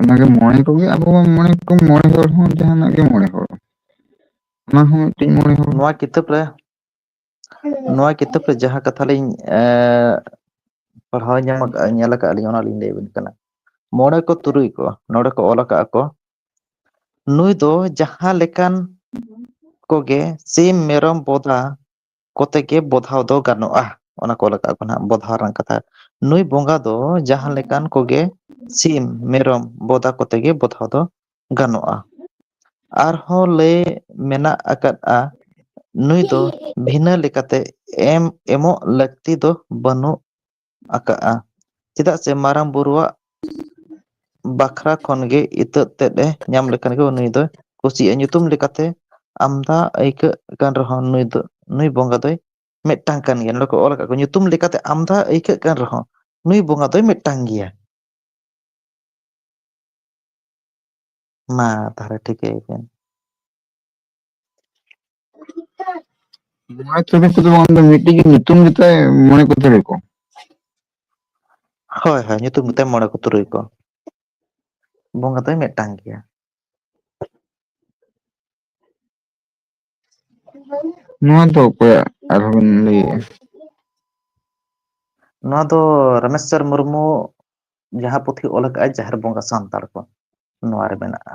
ᱚᱱᱟᱜᱮ ᱢᱚᱬᱮ ᱠᱚᱜᱮ ᱟᱵᱚ ᱢᱚᱬᱮ ᱠᱚ ᱢᱚᱬᱮ ᱦᱚᱲ ᱦᱚᱸ ᱡᱟᱦᱟᱱᱟᱜ ᱜᱮ ᱢᱚᱬᱮ ᱦᱚᱲ ᱚᱱᱟ ᱦᱚᱸ ᱢᱤᱫᱴᱤᱡ ᱢᱚᱬᱮ ᱦᱚᱲ ᱱᱚᱣᱟ ᱠᱤᱛᱟᱹᱵ ᱨᱮ ᱱᱚᱣᱟ ᱠᱤᱛᱟᱹᱵ ᱨᱮ ᱡᱟᱦᱟᱸ ᱠᱟᱛᱷᱟ ᱞᱤᱧ ᱮ ᱯᱟᱲᱦᱟᱣ ᱧᱟᱢ ᱟᱠᱟᱫᱼᱟ ᱧᱮᱞ ᱟᱠᱟᱫ ᱟᱹᱞᱤᱧ ᱚᱱᱟᱞᱤᱧ ᱞᱟᱹᱭ ᱟᱵᱤᱱ ᱠᱟᱱᱟ ᱢᱚᱬᱮ ᱠᱚ ᱛᱩᱨᱩᱭ ᱠᱚ ᱱᱚᱸᱰᱮ ᱠᱚ ᱚᱞ ᱟᱠᱟᱫᱼᱟ ᱠᱚ ᱱᱩᱭ ᱫᱚ ᱡᱟᱦᱟᱸ ᱞᱮᱠᱟᱱ ᱠᱚᱜᱮ ᱥᱤᱢ ᱢᱮᱨᱚᱢ ᱵᱚᱫᱟ ᱠᱚᱛᱮ ᱜᱮ ᱵᱚᱫᱷᱟᱣ ᱫᱚ ᱜᱟᱱᱚᱜᱼᱟ ᱚᱱᱟ ᱠᱚ ᱚᱞ ᱟᱠᱟᱫ ᱠᱚ ᱱᱟᱦᱟᱜ ᱵᱚᱫᱷᱟᱣ ᱨᱮᱱᱟᱜ ᱠᱟᱛᱷᱟ ᱱᱩᱭ ᱵᱚᱸᱜᱟ ᱫᱚ ᱡᱟᱦᱟᱸ ᱞᱮᱠᱟᱱ ᱠᱚᱜᱮ ᱥᱤᱢ ᱢᱮᱨᱚᱢ ᱵᱚᱫᱟ ᱠᱚᱛᱮ ᱜᱮ ᱵᱚᱫᱷᱟᱣ ᱫᱚ ᱜᱟᱱᱚᱜᱼᱟ ᱟᱨᱦᱚᱸ ᱞᱟᱹᱭ ᱢᱮᱱᱟᱜ ᱟᱠᱟᱫᱼᱟ ᱱᱩᱭ ᱫᱚ ᱵᱷᱤᱱᱟᱹ ᱞᱮᱠᱟᱛᱮ ᱮᱢ ᱮᱢᱚᱜ ᱞᱟᱹᱠᱛᱤ ᱫᱚ ᱵᱟᱹᱱᱩᱜ ᱟᱠᱟᱜᱼᱟ ᱪᱮᱫᱟᱜ ᱥᱮ ᱢᱟᱨᱟᱝ ᱵᱩᱨᱩᱣᱟᱜ ᱵᱟᱠᱷᱨᱟ ᱠᱷᱚᱱ ᱜᱮ ᱤᱛᱟᱹᱫ ᱛᱮᱫ ᱮ ᱧᱟᱢ ᱞᱮᱠᱷᱟᱱ ᱜᱮ ᱩᱱᱤ ᱫᱚᱭ ᱠᱩᱥᱤᱭᱟᱜᱼᱟ ᱧᱩᱛᱩᱢ ᱞᱮᱠᱟᱛᱮ ᱟᱢᱫᱟ ᱟᱹᱭᱠᱟᱹᱜ ᱠᱟᱱ ᱨᱮᱦᱚᱸ ᱱᱩᱭ ᱫᱚ ᱱᱩᱭ ᱵᱚᱸᱜᱟ ᱫᱚᱭ ᱢᱤᱫᱴᱟᱝ ᱠᱟᱱ ᱜᱮᱭᱟ ᱱᱚᱸᱰᱮ ᱠᱚ ᱚᱞ ᱟᱠᱟᱫ ᱠᱚᱣᱟ ᱧᱩᱛᱩᱢ ᱞᱮᱠᱟᱛᱮ ᱟᱢᱫᱟ ᱟᱹᱭᱠᱟᱹᱜ ᱠᱟᱱ ᱨᱮᱦᱚᱸ ᱱᱩᱭ ᱵᱚᱸᱜᱟ ᱫᱚᱭ ᱢᱤᱫᱴᱟᱝ ᱜᱮᱭᱟ ᱢᱟ ᱛᱟᱦᱚᱞᱮ ᱴᱷᱤᱠᱟᱹᱭ ᱵᱤᱱ ᱢᱚᱬᱮ ᱛᱩᱨᱩᱭ ᱠᱚᱫᱚ ᱵᱟᱝ ᱫᱚ ᱢᱤᱫᱴᱤᱡ ᱜᱮ ᱧᱩᱛᱩᱢ ᱜᱮᱛᱟᱭ ᱢᱚᱬᱮ ᱠᱚ ᱛᱩᱨᱩᱭ ᱠᱚ᱾ ᱦᱳᱭ ᱦᱳᱭ ᱧᱩᱛᱩᱢ ᱜᱮᱛᱟᱭ ᱢᱚᱬᱮ ᱠᱚ ᱛᱩᱨᱩᱭ ᱠᱚ ᱵᱚᱸᱜᱟ ᱫᱚᱭ ᱢᱤᱫᱴᱟᱝ ᱜᱮᱭᱟ᱾ ᱱᱚᱣᱟ ᱫᱚ ᱚᱠᱚᱭᱟᱜ ᱟᱨᱦᱚᱸ ᱵᱤᱱ ᱞᱟᱹᱭᱮᱜᱼᱟ? ᱱᱚᱣᱟ ᱫᱚ ᱨᱟᱢᱮᱥᱪᱚᱨ ᱢᱩᱨᱢᱩ ᱡᱟᱦᱟᱸ ᱯᱩᱛᱷᱤ ᱚᱞ ᱟᱠᱟᱫᱼᱟᱭ ᱡᱟᱦᱮᱨ ᱵᱚᱸᱜᱟ ᱥᱟᱱᱛᱟᱲ ᱠᱚ ᱱᱚᱣᱟ ᱨᱮ ᱢᱮᱱᱟᱜᱼᱟ᱾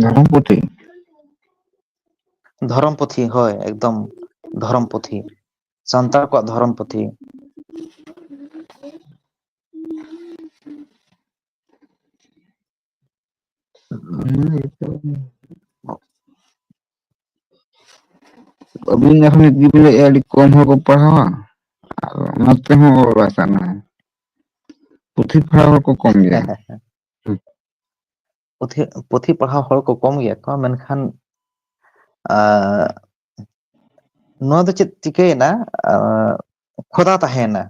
ᱫᱷᱚᱨᱚᱢ ᱯᱩᱛᱷᱤ ᱫᱷᱚᱨᱚᱢ ᱯᱩᱛᱷᱤ ᱦᱳᱭ ᱮᱠᱫᱚᱢ ᱫᱷᱚᱨᱚᱢ ᱯᱩᱛᱷᱤ ᱥᱟᱱᱛᱟᱲ ᱠᱚᱣᱟᱜ ᱫᱷᱚᱨᱚᱢ ᱯᱩᱛᱷᱤ ᱟᱹᱵᱤᱱ ᱡᱚᱠᱷᱚᱱ ᱜᱤᱵᱤᱱ ᱞᱟᱹᱭᱮᱜᱼᱟ ᱟᱹᱰᱤ ᱠᱚᱢ ᱦᱚᱲ ᱠᱚ ᱯᱟᱲᱦᱟᱣᱟ ᱟᱨ ᱚᱱᱟ ᱛᱮᱦᱚᱸ ᱚᱲ ᱵᱟᱭ ᱥᱟᱱᱟᱭᱟ ᱯᱩᱛᱷᱤ ᱯᱟᱲᱦᱟᱣ ᱦᱚᱲ ᱠᱚ ᱠᱚᱢ ᱜᱮᱭᱟ ᱯᱩᱛᱷᱤ ᱯᱩᱛᱷᱤ ᱯᱟᱲᱦᱟᱣ ᱦᱚᱲ ᱠᱚ ᱠᱚᱢ ᱜᱮᱭᱟ ᱠᱚ ᱢᱮᱱᱠᱷᱟᱱ ᱟᱨ ᱱᱚᱣᱟ ᱫᱚ ᱪᱮᱫ ᱪᱤᱠᱟᱹᱭᱮᱱᱟ ᱠᱷᱚᱫᱟ ᱛᱟᱦᱮᱸᱭᱮᱱᱟ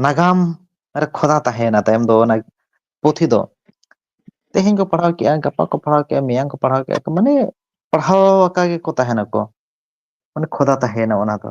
ᱱᱟᱜᱟᱢ ᱨᱮ ᱠᱷᱚᱫᱟ ᱛᱟᱦᱮᱸᱭᱮᱱᱟ ᱛᱟᱭᱚᱢ ᱫᱚ ᱚᱱᱟ ᱯᱩᱛᱷᱤ ᱫᱚ ᱛᱮᱦᱮᱧ ᱠᱚ ᱯᱟᱲᱦᱟᱣ ᱠᱮᱫᱼᱟ ᱜᱟᱯᱟ ᱠᱚ ᱯᱟᱲᱦᱟᱣ ᱠᱮᱫᱼᱟ ᱢᱮᱭᱟᱝ ᱠᱚ ᱯᱟᱲᱦᱟᱣ ᱠᱮᱫᱼᱟ ᱠᱚ ᱢᱟᱱᱮ ᱯᱟᱲᱦᱟᱣ ᱟᱠᱟ ᱜᱮᱠᱚ ᱛᱟᱦᱮᱱᱟᱠᱚ ᱢᱟᱱᱮ ᱠᱷᱚᱫᱟ ᱛᱟᱦᱮᱸᱭᱮᱱᱟ ᱚᱱᱟ ᱫᱚ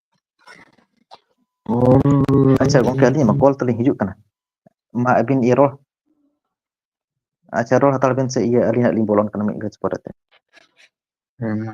ᱟᱪᱪᱷᱟ ᱜᱚᱝᱠᱮ ᱟᱹᱞᱤᱧᱟᱜ ᱢᱟ ᱠᱚᱞ ᱛᱟᱞᱤᱧ ᱦᱤᱡᱩᱜ ᱠᱟᱱᱟ ᱢᱟ ᱟᱹᱵᱤᱱ ᱤᱭᱟᱹ ᱨᱚᱲ ᱟᱪᱪᱷᱟ ᱨᱚᱲ ᱦᱟᱛᱟᱲ ᱵᱮᱱ ᱥᱮ ᱤᱭᱟᱹ ᱟᱹᱞᱤᱧ ᱦᱟᱸᱜ ᱞᱤᱧ ᱵᱚᱞᱚᱱ ᱠᱟᱱᱟ ᱢᱤᱫ ᱜᱷᱟᱹᱲᱤᱡ ᱯᱚᱨᱮᱛᱮ ᱦᱮᱸ ᱢᱟ